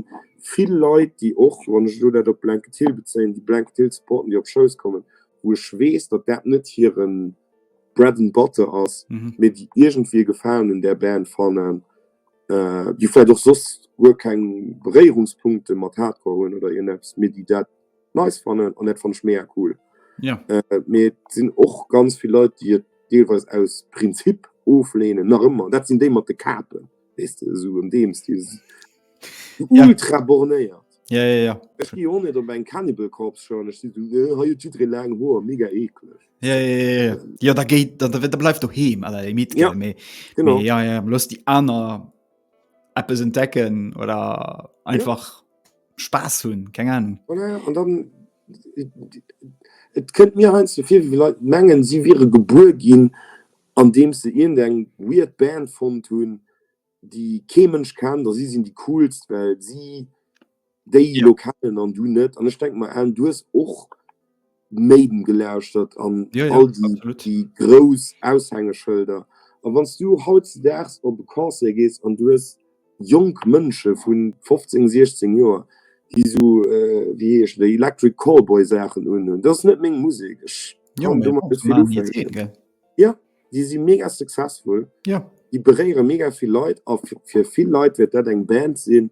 vill Leit, déi och, wann ech elo dat op Blanket Hill bezéien, déi Blanket Hill supporten, déi op Shows kommen, wou ech weess, datt dat net hire Bread and Butter ass, mee déi iergendwéi e Gefalen un där Band fannen, déi vläicht och soss guer keng Beréierungspunkte mat Hardcore hunn oder iergendeppes, mee déi dat nice fannen an dat fand ich mega cool. Ja. Äh, mir sinn och ganz viel Leute, die deelweis aus Prinzip oflehnen nach ëmmer. Dat sinn déi mat de Kapen, weißt du, so um deems die ja. ultra bornéiert. Ja, ja, ja. Ech gi on net op eng Cannibal Corps schon ech ha jo jiddere lang Hoer mega eklech. Ja, ja, ja, ja. ja da géit da, da, da bleif do heem aller déi mit ja. méi ja, ja, loss déi aner Appes entdecken oder einfach. Ja. Spaß hunn keng Ahnung. Voilà, an dann et kënnt mir heiansdo vir, wéi Leit mengen, si wiere gebuer ginn, andeems se iergendeng weird Band fonnt hunn, déi kee Mënsch kennt, a si sinn déi Coolst, well si déi elo kennen an du net. An ech denke mer, Alan, du hues och. Maiden gelauschtert an all déi grouss Aushängeschëlder. A wann s du hautzedaags op e Concert gees an du hues jonk Mënsche vu 15, 16 Joer, déi esou, wéi heescht et, Electric Callboy Saachen unhunn, dat ass net meng Musek. Ech kann domat net vill ufänken. Jo, déi si mega successful, déi beréiere mega vill Leit a fir vill Leit wäert dat eng Band sinn,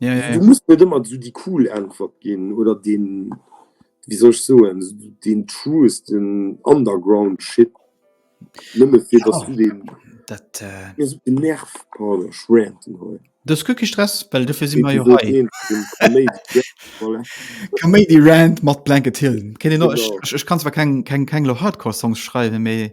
Ja, ja, ja. Du musst net ëmmer so déi cool Äntwert ginn oder den, wéi soll ech soen, den truesten Underground-Shit. Nëmme fir dass du den. Dat. Mir sou den Nerv, pardon, ech ranten hei. Dës guer kee Stress, well dofir si mer jo hei. Episode 1 vum Kaméidi. Voilà. Kaméidi-Rant mat Blanket Hill. Kéint een och, Genau. ech, ech, ech kann zwar keng, keng, keng lo Hardcore-Songs schreiwen, mee.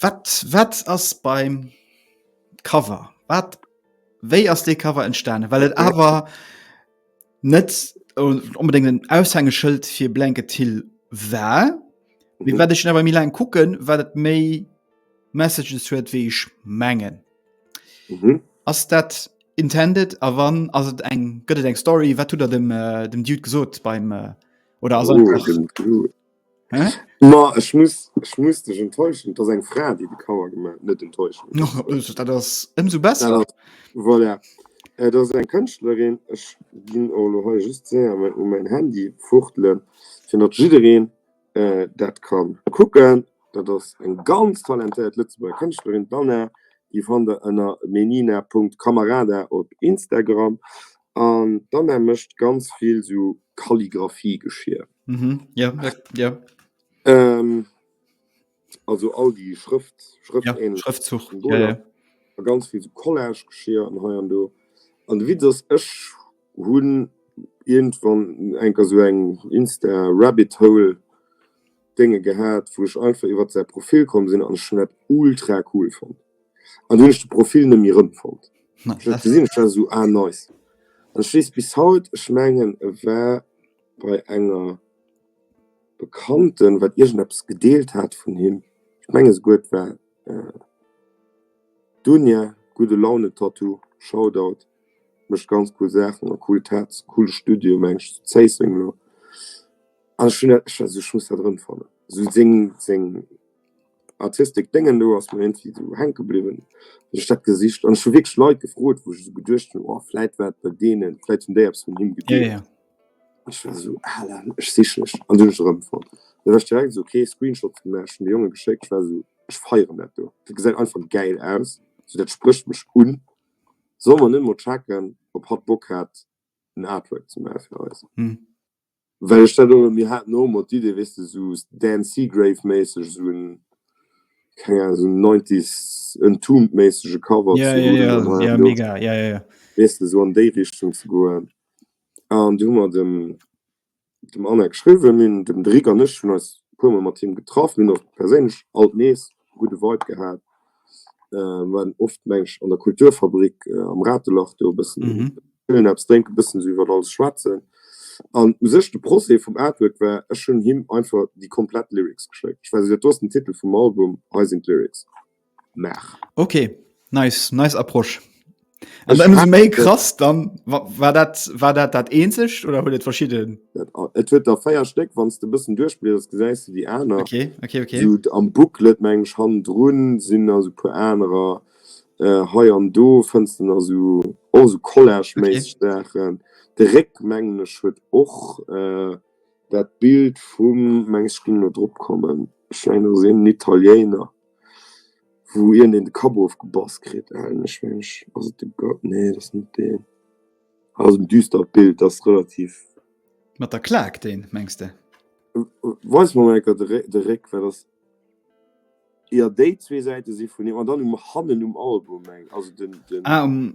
Wat wat ass beim Cover? Wat wéi ass dee Cover entstane? Well et awer net onbedéngt en Aushängeschëld fir Blanket Hill war. Wéi mhm. wat ech awer mi laang kucken, wat et méi Messages huet wéi ech mengen. Mhm. Ass dat intended a wann ass et eng gëtt et eng Story, wat tut er dem, äh, dem Dude gesot beim äh, oder ass oh, Ma ech muss ech muss dech enttäuschen, et ass eng Fra, déi de Cover gemaach huet, net enttäuschen. Och dat ass ëmsou besser. Dat ass, voilà, et ass eng Kënschtlerin. Ech ginn och elo hei just séier mol u mäin Handy fuchtelen, fir datt jiddereen dat ka kucken. Dat ass eng ganz talentéiert Lëtzebuerger Kënschtlerin, d'Anna. Déi fannt der ënner menina.camarada op Instagram. An d'Anna mécht ganz vill esou Kalligraphiegeschier. Mhm. Ja, ja, ja. Ähm, also all die Schrift, Schrift ja, ähnlich. Schriftzug. Und ja, ja. ganz viel so Collage geschehen und hier und da. Und wie das ich hun irgendwann enker so eng Insta Rabbit Hole Dinge gehabt, wo ich einfach über sein Profil kommen sind an Schnett ultra cool fand. An hun ich de Profil ne mir fand. Nice. Ich gesehen, ich so ah, nice. Und ich bis haut, ich mengen, war bei enger Bekannten, wat iergendeppes gedeelt hat vun him, ech mengen souguer et war d'Dunja, gudde Laune Tattoo, Shoutout, mécht ganz cool Saachen a cool Tats, coole Studio meng ech zu Zéisseng elo an ech hunn dat, ech also ech muss dat erëmfannen, sou seng seng artistic Déngen do ass mer iergendwéi esou hänke bliwwen, hunn ech dat gesicht an ech hu wierklech Leit gefrot, wou ech esou geduecht hunn, oh vläit war et bei deenen, vläit hunn déi eppes vun him gedeelt. Ech war esou aarlam, ech si schlecht. An dunn ech erëmfonnt. An dunn ech direkt esou kee Screenshot gemaach. Ech hunn de Jonge geschéckt. Ech war esou, ech feieren dat do, dat gesäit einfach gäil aus. Esou dat sprécht mech un. Solle mer net emol checken, ob hatt Bock hätt, en Artwork ze maache fir eis? Well ech dat och, mir haten och emol d'Idee, weess de, esou Dan Seagrave-méisseg, esou en, keng Ahnung, esou en Nineties Entombed-méissege Cover ze huelen oder, weess de, esou an déi Richtung ze goen. An du hu mer dem dem Anne geschriwwen hunn dem Derick an ech hunn eis puer mol mat him getraff. Mir hunn och perséinlech alt nees e gudde Vibe gehat. Mir waren oft meng ech an der Kulturfabrik am Ratelach do e bëssen chillen, eppes drénken, e bëssen esou iwwer alles schwätzen. An u sech de Procès vum Artwork war, ech hunn him einfach déi komplett Lyrics geschéckt. Ech weess net, do ass den Titel vum Album, hei sinn d'Lyrics. Maach. Ok, nice, nice Approche. An dann ist méi krass dann war dat war dat dat eenzegt oder huet et verschidden? Et huet der feier Stéck wann de bëssen duerchblieders gesäis du déi aner okay, okay, okay. So, am Booklet meng han run sinn also pu anerer äh, hei an do fënst den also also Collage okay. méi Sachen de Réck mengglech huet och äh, dat Bild vum mengs ging no drop kommen Schein sinn Italiener. wou iergendeen de Kapp ofgebass kritt, an ech mengen ech, ass et de go, nee dat ass net deen, ass en düstert Bild, dat ass relativ. Mat der Klack deen, mengs de? Weis mer mol enker de Réck, well dat ass, jo déi zwee Säite si vun him, an dann um hannen um Album meng, also den, den. Ah um.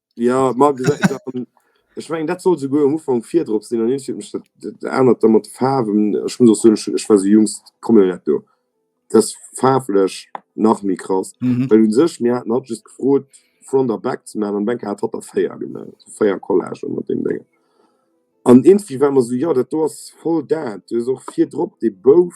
Ja, ma ech mengen dat soll souguer um Ufang virdrop sinn an ech mech ännert der mat de Faarwen ech muss so ech war se jngst kommen net do dat faarflech nach mi krass mhm. Well un sech mir hatten hat just gefrot front der back ze man an Bank hat hat der feier gemellt feier Collage mat dem Dinge an irgendwie war man so ja dat do ass voll dat du och virdrop de bouf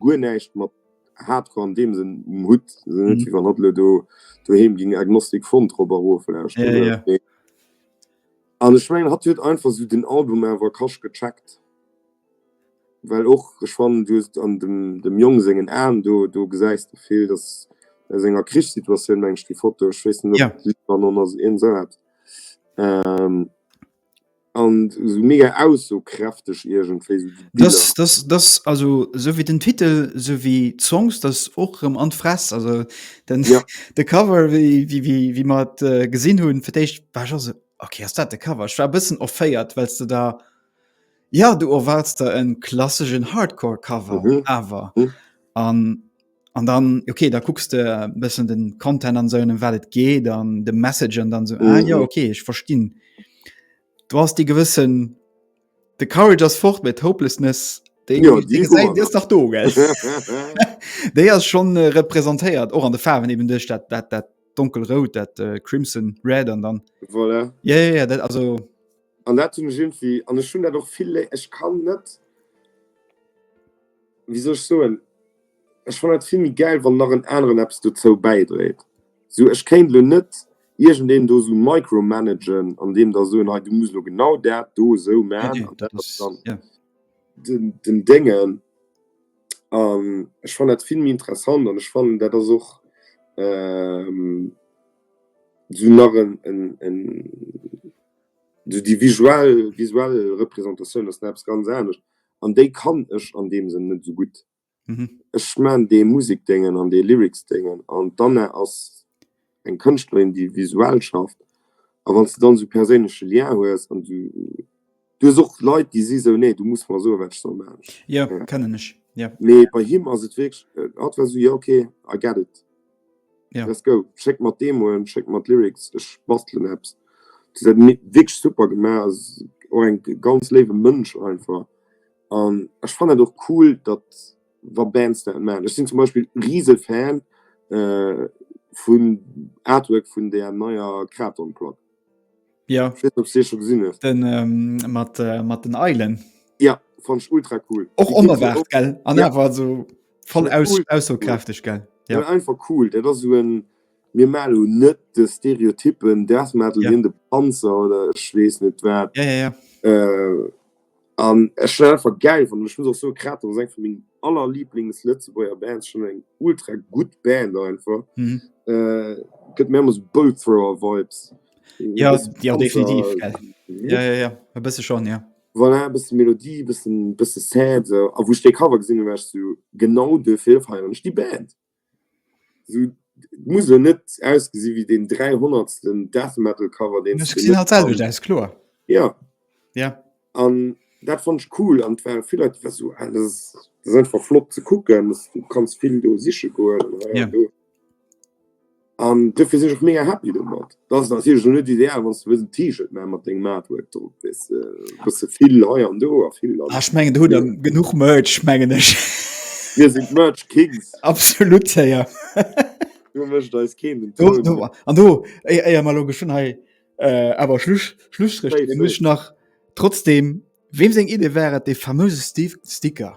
Guer näischt mat Hardcore an deem Sënn um Hutt. Ass jo net wéi wann hatt elo do doheem géing Agnostic Front drop a rof lauschteren. Jo, jo. Mee an ech mengen hatt huet einfach esou den Album awer kasch gecheckt. Well och, ech fannen du hues an dem dem Jong sengen Aen do, do gesäis de vill, datt aus enger Krichssituatioun, mengen ech déi Foto, ech weess net ob Libanon ass, iergend esou eppes. an sou mega aussokräfteg iergendwéi sou déi Biller. Dass, dass, dass, also sou wéi den Titel, sou wéi d'Songs, dass och erëm an d'Fress, also den Ja. de Cover wéi wéi wéi wéi mer et äh, gesinn hunn fir d'éischt, war ech och sou, ok ass dat de Cover? Ech war e bëssen offéiert, well s de da, ja du erwaards der e klasseschen Hardcore Cover Mhm. awer Mhm. an an dann okay da kucks de äh, bessen den Content an so um wat et geht an de Message an dann so mhm. ah, ja mhm. okay ich verstehen du hast die gewissen the courage as fort mit hopelessness den, ja, den, den seid, ist doch do der ist schon äh, repräsentiert auch an der Farben eben durch dat, dat, dat dunkelrot dat äh, crimson red an dann voilà. ja, ja, ja, dat, also an dat irgendwie an schon doch viele ich kann net wieso so ein Ech fannen dat vill méi gäil wann nach en aneren eppes dozou bäidréit, sou ech kéint lo net iergendeen do sou micromanagen an deem da soen, hei du muss lo genau dat do sou man an dat ass dann den Déngen an ech fannen dat vill méi interessant an ech fannen dat ass och sou nach en sou déi visuell Repräsentatioun ass nach eppes ganz anescht. an déi kann ech an deem Sënn net esou gutt. Ech maachen dee Musik-Déngen an dee Lyrics-Déngen an d'Anna ass eng Kënschtlerin, déi visuell schafft a wann s de dann esou perséinleche Lien hues an du, du hues och Leit, déi si esou, nee, du muss mer soen, wat ech soll maachen. Mee bei him ass et wierklech, hatt war esou, jo, okay, I get it. Ja. Let's go. Schéck mer d'Demoen, schéck mer d'Lyrics, ech bastelen eppes. Dir säit mi wierklech super gemaach, ass och eng ganz léiwe Mënsch einfach. An ech fannen dat och cool, datt wa Bands dat maachen. Ech sinn zum Beispill rise Fan äh, vum Artwork vun där neier Kraton-Plack. Ja. Ich weiß nicht, ob du schon gesehen hast. Den, ähm, mit, äh, mit den Eilen. Ja, fand ich ultra cool. Auch unerwartet, gell? Und ja. einfach so voll aus, cool. aussagekräftig, gell? Ja. ja. einfach cool. Der ist so ein, wir machen nicht die Stereotypen, Death Metal, ja. in den Panzer oder ich weiß nicht was. Ja, ja, ja. Äh, An ech finn dat einfach gäil. An ech muss och soen, Kraton ass eng vu mengen aller Liblings-Lëtzebuerger Bands. Schon eng ultra gutt Band einfach. Gëtt mir ëmmer sou Bolt Thrower Vibes. Jo, jo, definitiv. Jo, jo, jo, e bësse schonn, jo. Voilà, e bësse Melodie, e bësse sad. A wou ech dee Cover gesinn hunn, war ech sou, Genau duerfir feieren ech déi Band. Esou muss en net ausgesinn wéi deen dräihonnertsten Death Metal Cover deen se gemaach hunn. Selwecht aus kloer. Ja ja an dat fannt ech cool an ware vill Leit war sou ah dat ass einfach flott ze kucken, du kanns vill do siche goen an hei an do. An dofir sinn ech och mega happy domat. Et ass natierlech elo net ideal, wann s de wëlls en T-Shirt maachen mat dengem Artwork drop, weess de, e bësse vill hei an do a vill an. Ah, ech mengen, der hutt der genuch Merch, mengen ech. Mir sinn d'Merch Kings. Absolut, hé jo. Do mécht eis keen den Toun. Do, do, an do, éier, éier mer elo geschwënn hei awer Schluss, Schlusstréch dréine, muss ech nach trotzdeem, weem seng Idee war et, dee famöse Sti, Sticker?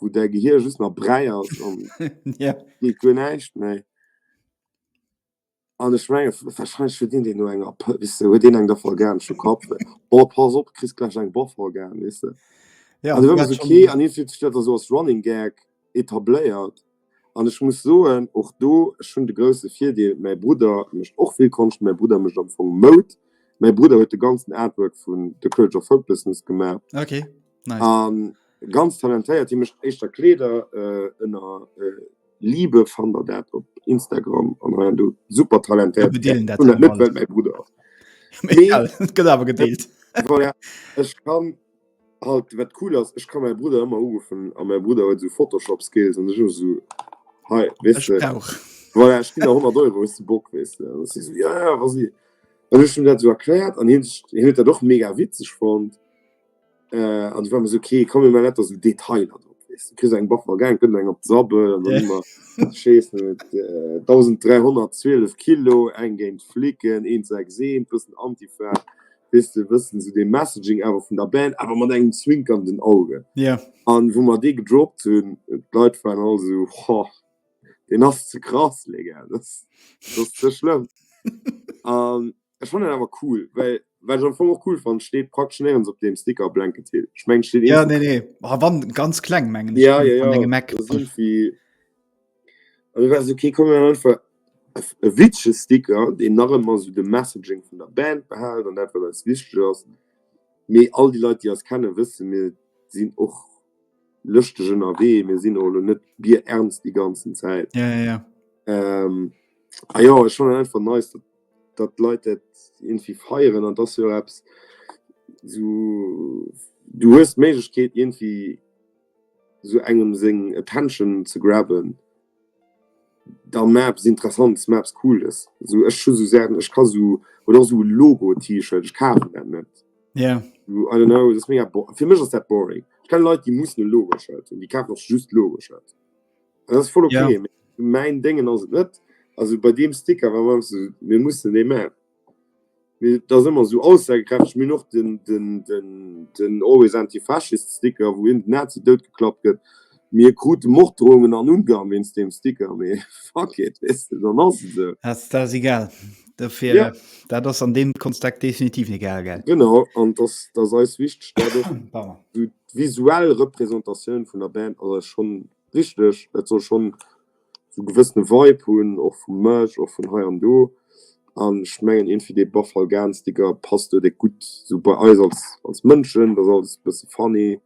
wou däi Gehir just nach Bräi ass an yeah. geet guer näischt méi. An ech menge wahrscheinlich fir deen, deen no enger wisse huet deen eng der organsche Kap. Oh pass op, kris gläich eng Boff organ wisse. Ja, an okay, an fir dat so ass Running Gag etabléiert. An ech muss soen, och do, ech hunn de grousse Virdeel, mäi Brudder mécht och vill Konscht, mäi Brudder mécht am Fong Moud, mäi Brudder huet de ganzen Artwork vun The Courage of Hopelessness gemaach. Okay, nice. A ganz talentéiert, hie mécht éischter Kleeder, ënner Liebe fannt der dat op Instagram an hei an do. Super talentéiert, ech hunn dat net, well et mäi Brudder ass. Mee egal, et gëtt awer gedeelt. Voilà, ech kann. Halt wat cool ass ech ka mäi Brudder ëmmer uruffen a mäi Brudder huet sou Photoshop Skills an ech hu sou hei wees de voilà ech ginn der 100 Euro hues de Bock wees de an si sou ja ja wa si an ech hunn dat sou erkläert an hien sech hien huet dat och mega witzeg fonnt äh an du war mer sou okay komm mir man net der sou Detailer drop wees de kriss eng Bach mer gaangen kënnt eng op d'Sabbel an dann hu mer schees net äh 1312 Kilo eng géint d'Flicken een 6 een bëssen Antifa weess de, wëssen esou dee Messaging awer vun der Band, awer mat engem zwinkernden Auge. Ja. An wou mer dee gedroppt hunn, d'Leit waren all esou, Hoh, deen ass ze krass, Léger, dass ass ze schlëmm. An ech fannen dat awer cool, well wat ech am Fong och cool fannen, et steet praktesch néierens op deem Sticker Blanket Hill. Ech mengen, et steet. Ja, nee, nee, a wann ganz kleng, mengen ech, an engem Eck. Ja, ja, ja, esou wéi. Also war se kee Cover, einfach e witzege Sticker, deen nach ëmmer esou de Messaging vun der Band behält an dat, wat eis wichteg ass. Mee all déi Leit, déi eis kennen, wëssen, mir sinn och lëschteg ënnerwee, mir sinn och elo net bierernst déi ganzen Zäit. Ja, ja, ja. A jo, ech fannen einfach nice, datt, datt d'Leit dat iergendwéi feieren an et ass jo eppes, esou, du hues d'Méiglechkeet iergendwéi, sou engem seng attention ze grabben da maach eppes interessants, maach eppes cooles, sou ech hu sou Saachen, ech ka sou oder och sou e Logo T-shirt, ech kafen dat net, jo I don't know, dat ass mega bo, fir mech ass dat boring, ech kenne Leit déi mussen e Logo Shirt hunn, déi kafen och just Logo Shirt an dat ass voll ok, mee mäin Déngen ass et net, also bei deem Sticker war mer awer sou, mir mussen dee man. Mee dat ass ëmmer esou aussagekräfteg. Mir hunn och den Always Anti-Fascist Sticker, wou iergend en Nazi doutgeklappt gëtt. Mir krute Morddroungen an Ungarn wéinst deem Sticker. Mee fuck it, weess de, dann ass et esou. Dat ass egal. Dofir, dat ass an deem Konstek definitiv egal, gell? Genau, an dass dass eis wichteg dat och. Pardon. D'visuell Representatioun vun der Band ass eis schonn wichteg. Et soll schonn sou e gewëssene Vibe hunn, och vu Merch, och vun hei an do. An ech mengen, eent wéi dee Buffalo Gun Sticker passt do direkt gutt sou bei eis als als Mënschen. Et ass alles e bësse funny,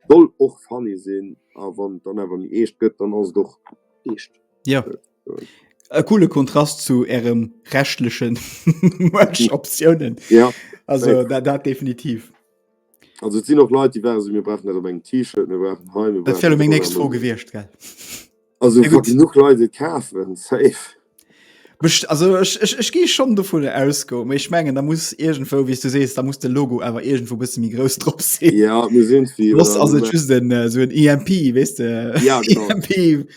soll och funny sinn. A wann et dann awer méi eescht gëtt, dann ass et och eescht. Jo, e coole Kontrast zu ärem reschtleche Merch-Optiounen. Also dat definitiv. Also et sinn och Leit, déi waren esou, mir brauchen net op engem T-Shirt, mir brauchen hei, mir Dat wär lo meng nächst Fro gewiescht, gell? Also ja, gut. genug Leit et kafen, safe. Best, also ech, ech, ech gi schon dovun ausgo, méi ich mengen da muss irgendwo wie du sees, da muss de Logo awer irgendwo bësse mi grouss drop sinn. Ja, mir sinn wie. Loss ass et just en, äh, so en EMP, wees de? Ja, genau. EMP.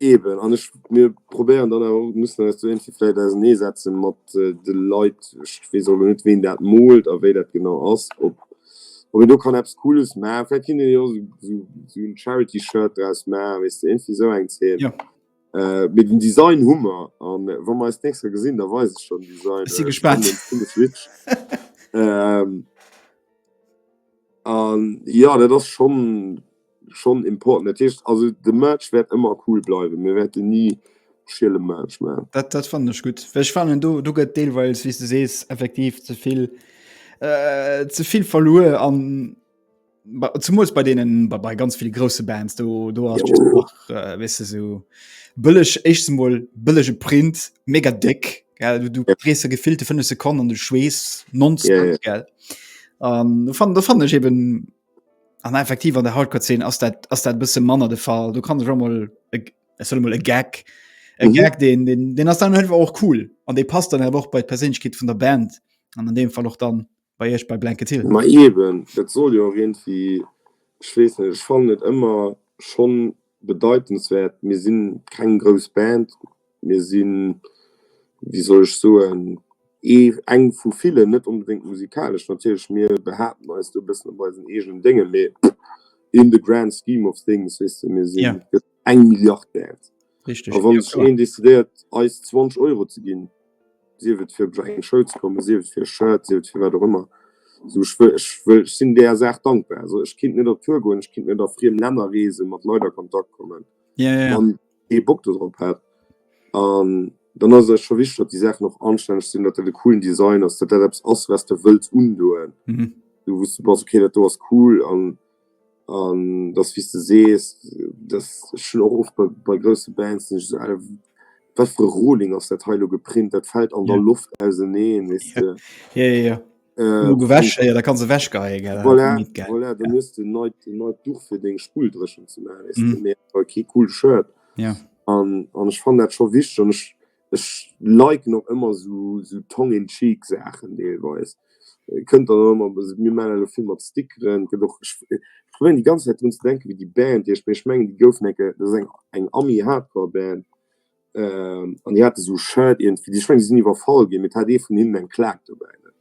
Eben, an ech, mir probéieren dann awer och, mussen eis do iergendwéi vläicht ausernee setze mat de Leit. Ech weess och elo net, ween dat moolt a wéi dat genau ass, ob, ob een do kann eppes Cooles ma. Vläicht kinnt een jo och esou, esou en Charity-Shirt draus ma, weess de, iergendwéi esou eng Zeen. Jo. Mee den Design hu mer a wa mer eis d'nächst Kéier gesinn, da weis ech der den Design. Ech si gespaant. An, jo, dat ass schonn schon important. Dat heescht also de Merch wäert ëmmer cool bleiwen. Mir wäerte ni schiele Merch maachen. Dat, dat fand ech gut. Ech fanen du, du gëtt deelweils wie du sees effektiv zevill äh, zevill verluer an zum muss bei denen bei, bei ganz viele große Bands du du hast ja, oh. auch, äh, weißt du, so billig echt mal billige Print mega dick gell? du, du ja. drehst gefüllte fünf Sekunden und du schwes non ja, ja. gell ähm, fand, fand ich eben An effektiv an der Hardcore Szene ass dat ass dat bësse manner de Fall. Du kann sech mal mal e Gag e mhm. Gag den den den ass dann hëlf och cool an dee passt dann och bei d'Peréinkeet vun der Band an an deem Fall och dann bei ech bei Blanket Hill. Ma eben dat soll jo rent wie schwees net fan net ëmmer schon Bedeitenswert, mir sinn keng grouss Band, mir sinn, wéi soll ech soen, ee, eng vu villen, net onbedéngt musikalesch natierlech, mir behaapten eis do e bëssen op eisen eegenen Déngen, mee in the grand scheme of things, weess de, mir si eng Milliard Band a wann sech een decidéiert eis 20 Euro ze ginn, sief et fir bei eng Schoul ze kommen, sief et fir e Shirt, sief et fir wat och ëmmer, esou ech wëll, ech wëll, ech sinn där Saach dankbar, esou ech kinnt net op Tour goen, ech kinnt net a friem Länner reesen, mat Leit a Kontakt kommen, wann ee Bock dodrop hätt. An dann ass et scho wichteg, datt déi Saachen och anstänneg sinn, datt dat e coolen Design ass, datt dat eppes ass, wat s de wëlls undoen, wou s de bass, okay dat do ass cool. An. An dass wéi s de sees, dass ech hunn och oft bei bei grousse Bands, sinn ech esou, wat fir e Rohling ass dat hei lo geprint, dat fält an der Loft auserneen, weess de. Jo, jo, jo. Genuch ewech, jo, da kanns ewechgeheie, gell. Voilà, voilà, dann hues de en neit, en neit Duch fir deng Spulldréchent ze maachen, weess de, mee awer kee coolt Shirt. An, an ech fannen dat scho wichteg an ech, Ech liken och ëmmer sou tongue in cheek Saachen deelweis. Kënnt dann och ëmmer, also mir maachen elo vill mat Stickeren, gëtt och, ech probéieren déi ganz Zäit drun ze denken, wéi déi Band heescht, mee ech mengen déi goufen eng Kéier, dat ass eng eng Ami-Hardcore-Band an déi hate sou Shirt iergendwéi, ech menge déi sinn iwwerfall ginn, mee et hat ee vun hinnen eng Klack dobäi.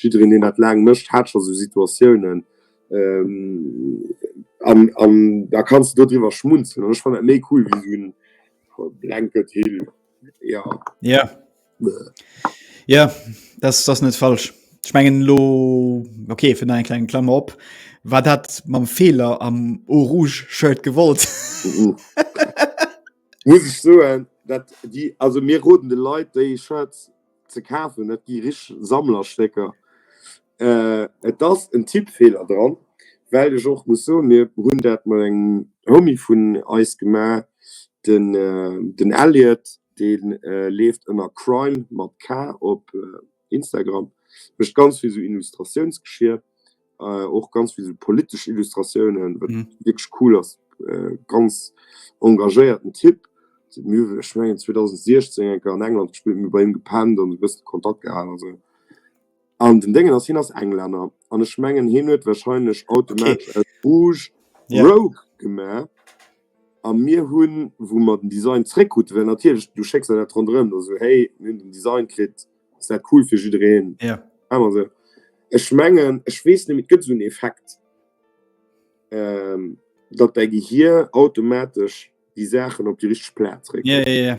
Jiddereen, deen dat laang mécht, hat scho sou Situatiounen. An, an da kanns de dodriwwer schmunzelen. An ech fannen dat méi cool wéi sou en blanket Hehl. Jo. Jo. Jo, dat ass net falsch. Ech mengen elo, ok, fir nach eng kleng Klammer op, Wat hat mam Feeler am Eau rouge Shirt gewollt? Muss ech soen, dat déi, also mir roden de Leit, déi Shirts ze kafen net gi rich Sammlerstécker et ass en Tippfeeler dran well ech och muss soen mir hunn dat mat engem Homie vun eis gemaach den den Elliot dee leeft ënner crime mat k op Instagram mécht ganz vill sou Illustratiounsgeschier. äh, och ganz viel politisch Illustrationen mhm. wirklich cool ass äh, ganz engagéierten Tipp ich mein, 2016 an England gespielt mir bei ihm gepennt und bist Kontakt gehalten also an den Dingen aus hin aus Engländer an ich mengen hin wird wahrscheinlich automatisch okay. Rouge, yeah. Rogue gemerk an mir hun wo man den Design zurück gut wenn natürlich du schickst ja dran drin also hey den Design kriegt ass dat cool fir jiddereen ja awer se ech mengen ech wees ni mit gëtt un effekt ähm, dat dei gehir automatisch die sachen op die rich platz ré ja ja ja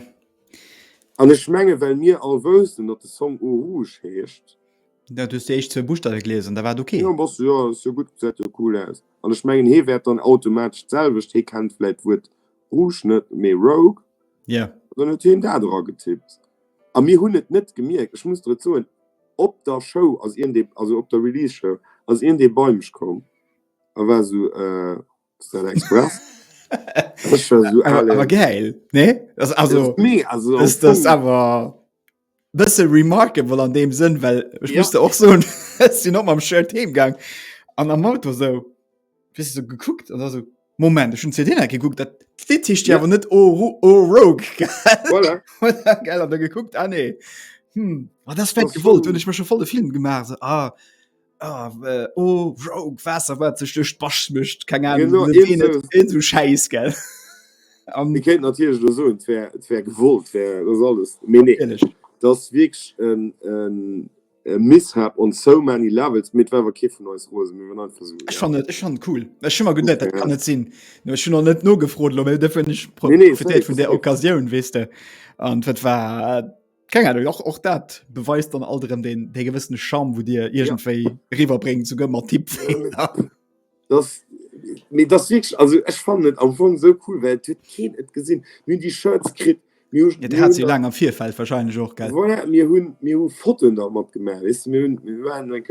an ech menge well mir all wësten dat de song o rouge heescht dat du se echt ze buchstabe gelesen da war okay ja, was, ja, so gut se cool aus an ech mengen he werd dann automatisch selwecht he kennt vielleicht wurt Rouge net, mee Rogue. Ja. Dann huet hien dat era getippt. A mir hunn et net gemierkt. Ech muss der et soen, op der Show ass iergend ee, also op der Release Show, ass iergend ee bei mech komm a war esou, Äh, ass dat Express? Ech war esou, Awer, Alé. awer gäil, nee? Also, also, also am Fong. Dass awer. bësse remarkable an dem Sënn, well ech ja. musste och so sinn op am Shirt Theemgang an am Auto so bis so gekuckt an so Moment schon CD geguckt dat Dicht ja. net oh, oh, Rogue voilà. geil, geguckt ah, nee. hm. oh, das gewollt hun ich mir schon voll de Film gemacht so, ah. Ah, äh, oh, Rogue, Wasser, wat sech duerch d'Basch mëscht, keng Ahnung, Genau, net irgend wéi, so- net irgend so Schäiss, gell? Am, Mir kéint natierlech lo soen, et wär, et wär gewollt, wär, dat ass alles. Mee nee, natierlech. dat ass wierklech en, en, e Mishap on so many levels. Mee et war awer kee vun eis rose, mir waren einfach sou, Ech ja. fannen, ech fannen cool. Ech hu mer geduet, dat kann net sinn. No, ech hunn och net nogefrot lo, mee dofir hunn ech pro, Nee, nee, profitéiert safe, vun där safe. Occasioun, weess de. An dat war. Keng Ahnung, och, och dat beweist dann alt erëm den, den gewëssene Charme, wo dir irgendwéi ja. riwwerbréngt, souguer mat Tipp. Ja. Das, nee, das wirklich, also ich fand es am Anfang so cool, weil es kein et gesehen. Wir haben die Shirts gekriegt. Wir haben, ja, wir hat sie lange am Vierfeld wahrscheinlich auch, gell? Voilà, wir haben, wir haben Fotos noch mitgemacht, weißt du? Wir, haben, wir waren like,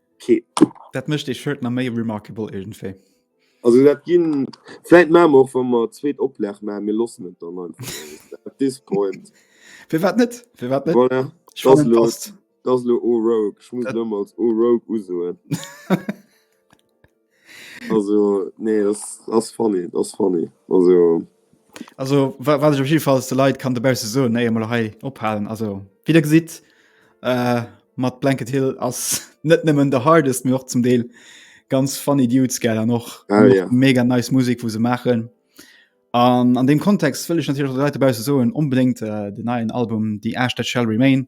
Okay. Dat mécht dee Shirt nach méi remarkable irgendwie. Also dat ginn vielleicht machen wir auch, wenn wir zweet Oplag machen, wir lassen es dann einfach at this point. Fir wat net? Fir wat net? Voilà. Ich Das fand, lo, das passt. das lo O-Rogue. Ich muss Dat- lo mal als O-Rogue usoen. Also nee dass ass funny, dass ass funny also. Also wat ech op jeden Fall de Leiit kann dobausse soen, éier mer hei ophalen, also wéi der gesitt äh, mat Blanket Hill ass net nëmmen de hardest mee och zum Deel ganz funny Dudes gell an och Ah ja. mega nice Musek wou se maachen. An an deem Kontext wëll ech natierlech och de Leit dobausse soen, onbedéngt äh, den neien Album The Ash That Shall Remain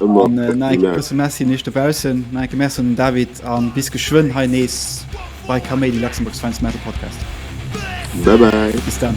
An Nike grousse Merci nees dobaussen. Nike Merci un den David an bis geschwënn hei nees bei Kaméidi Luxembourg's Finest Metal Podcast. Bye bye. Bis dann.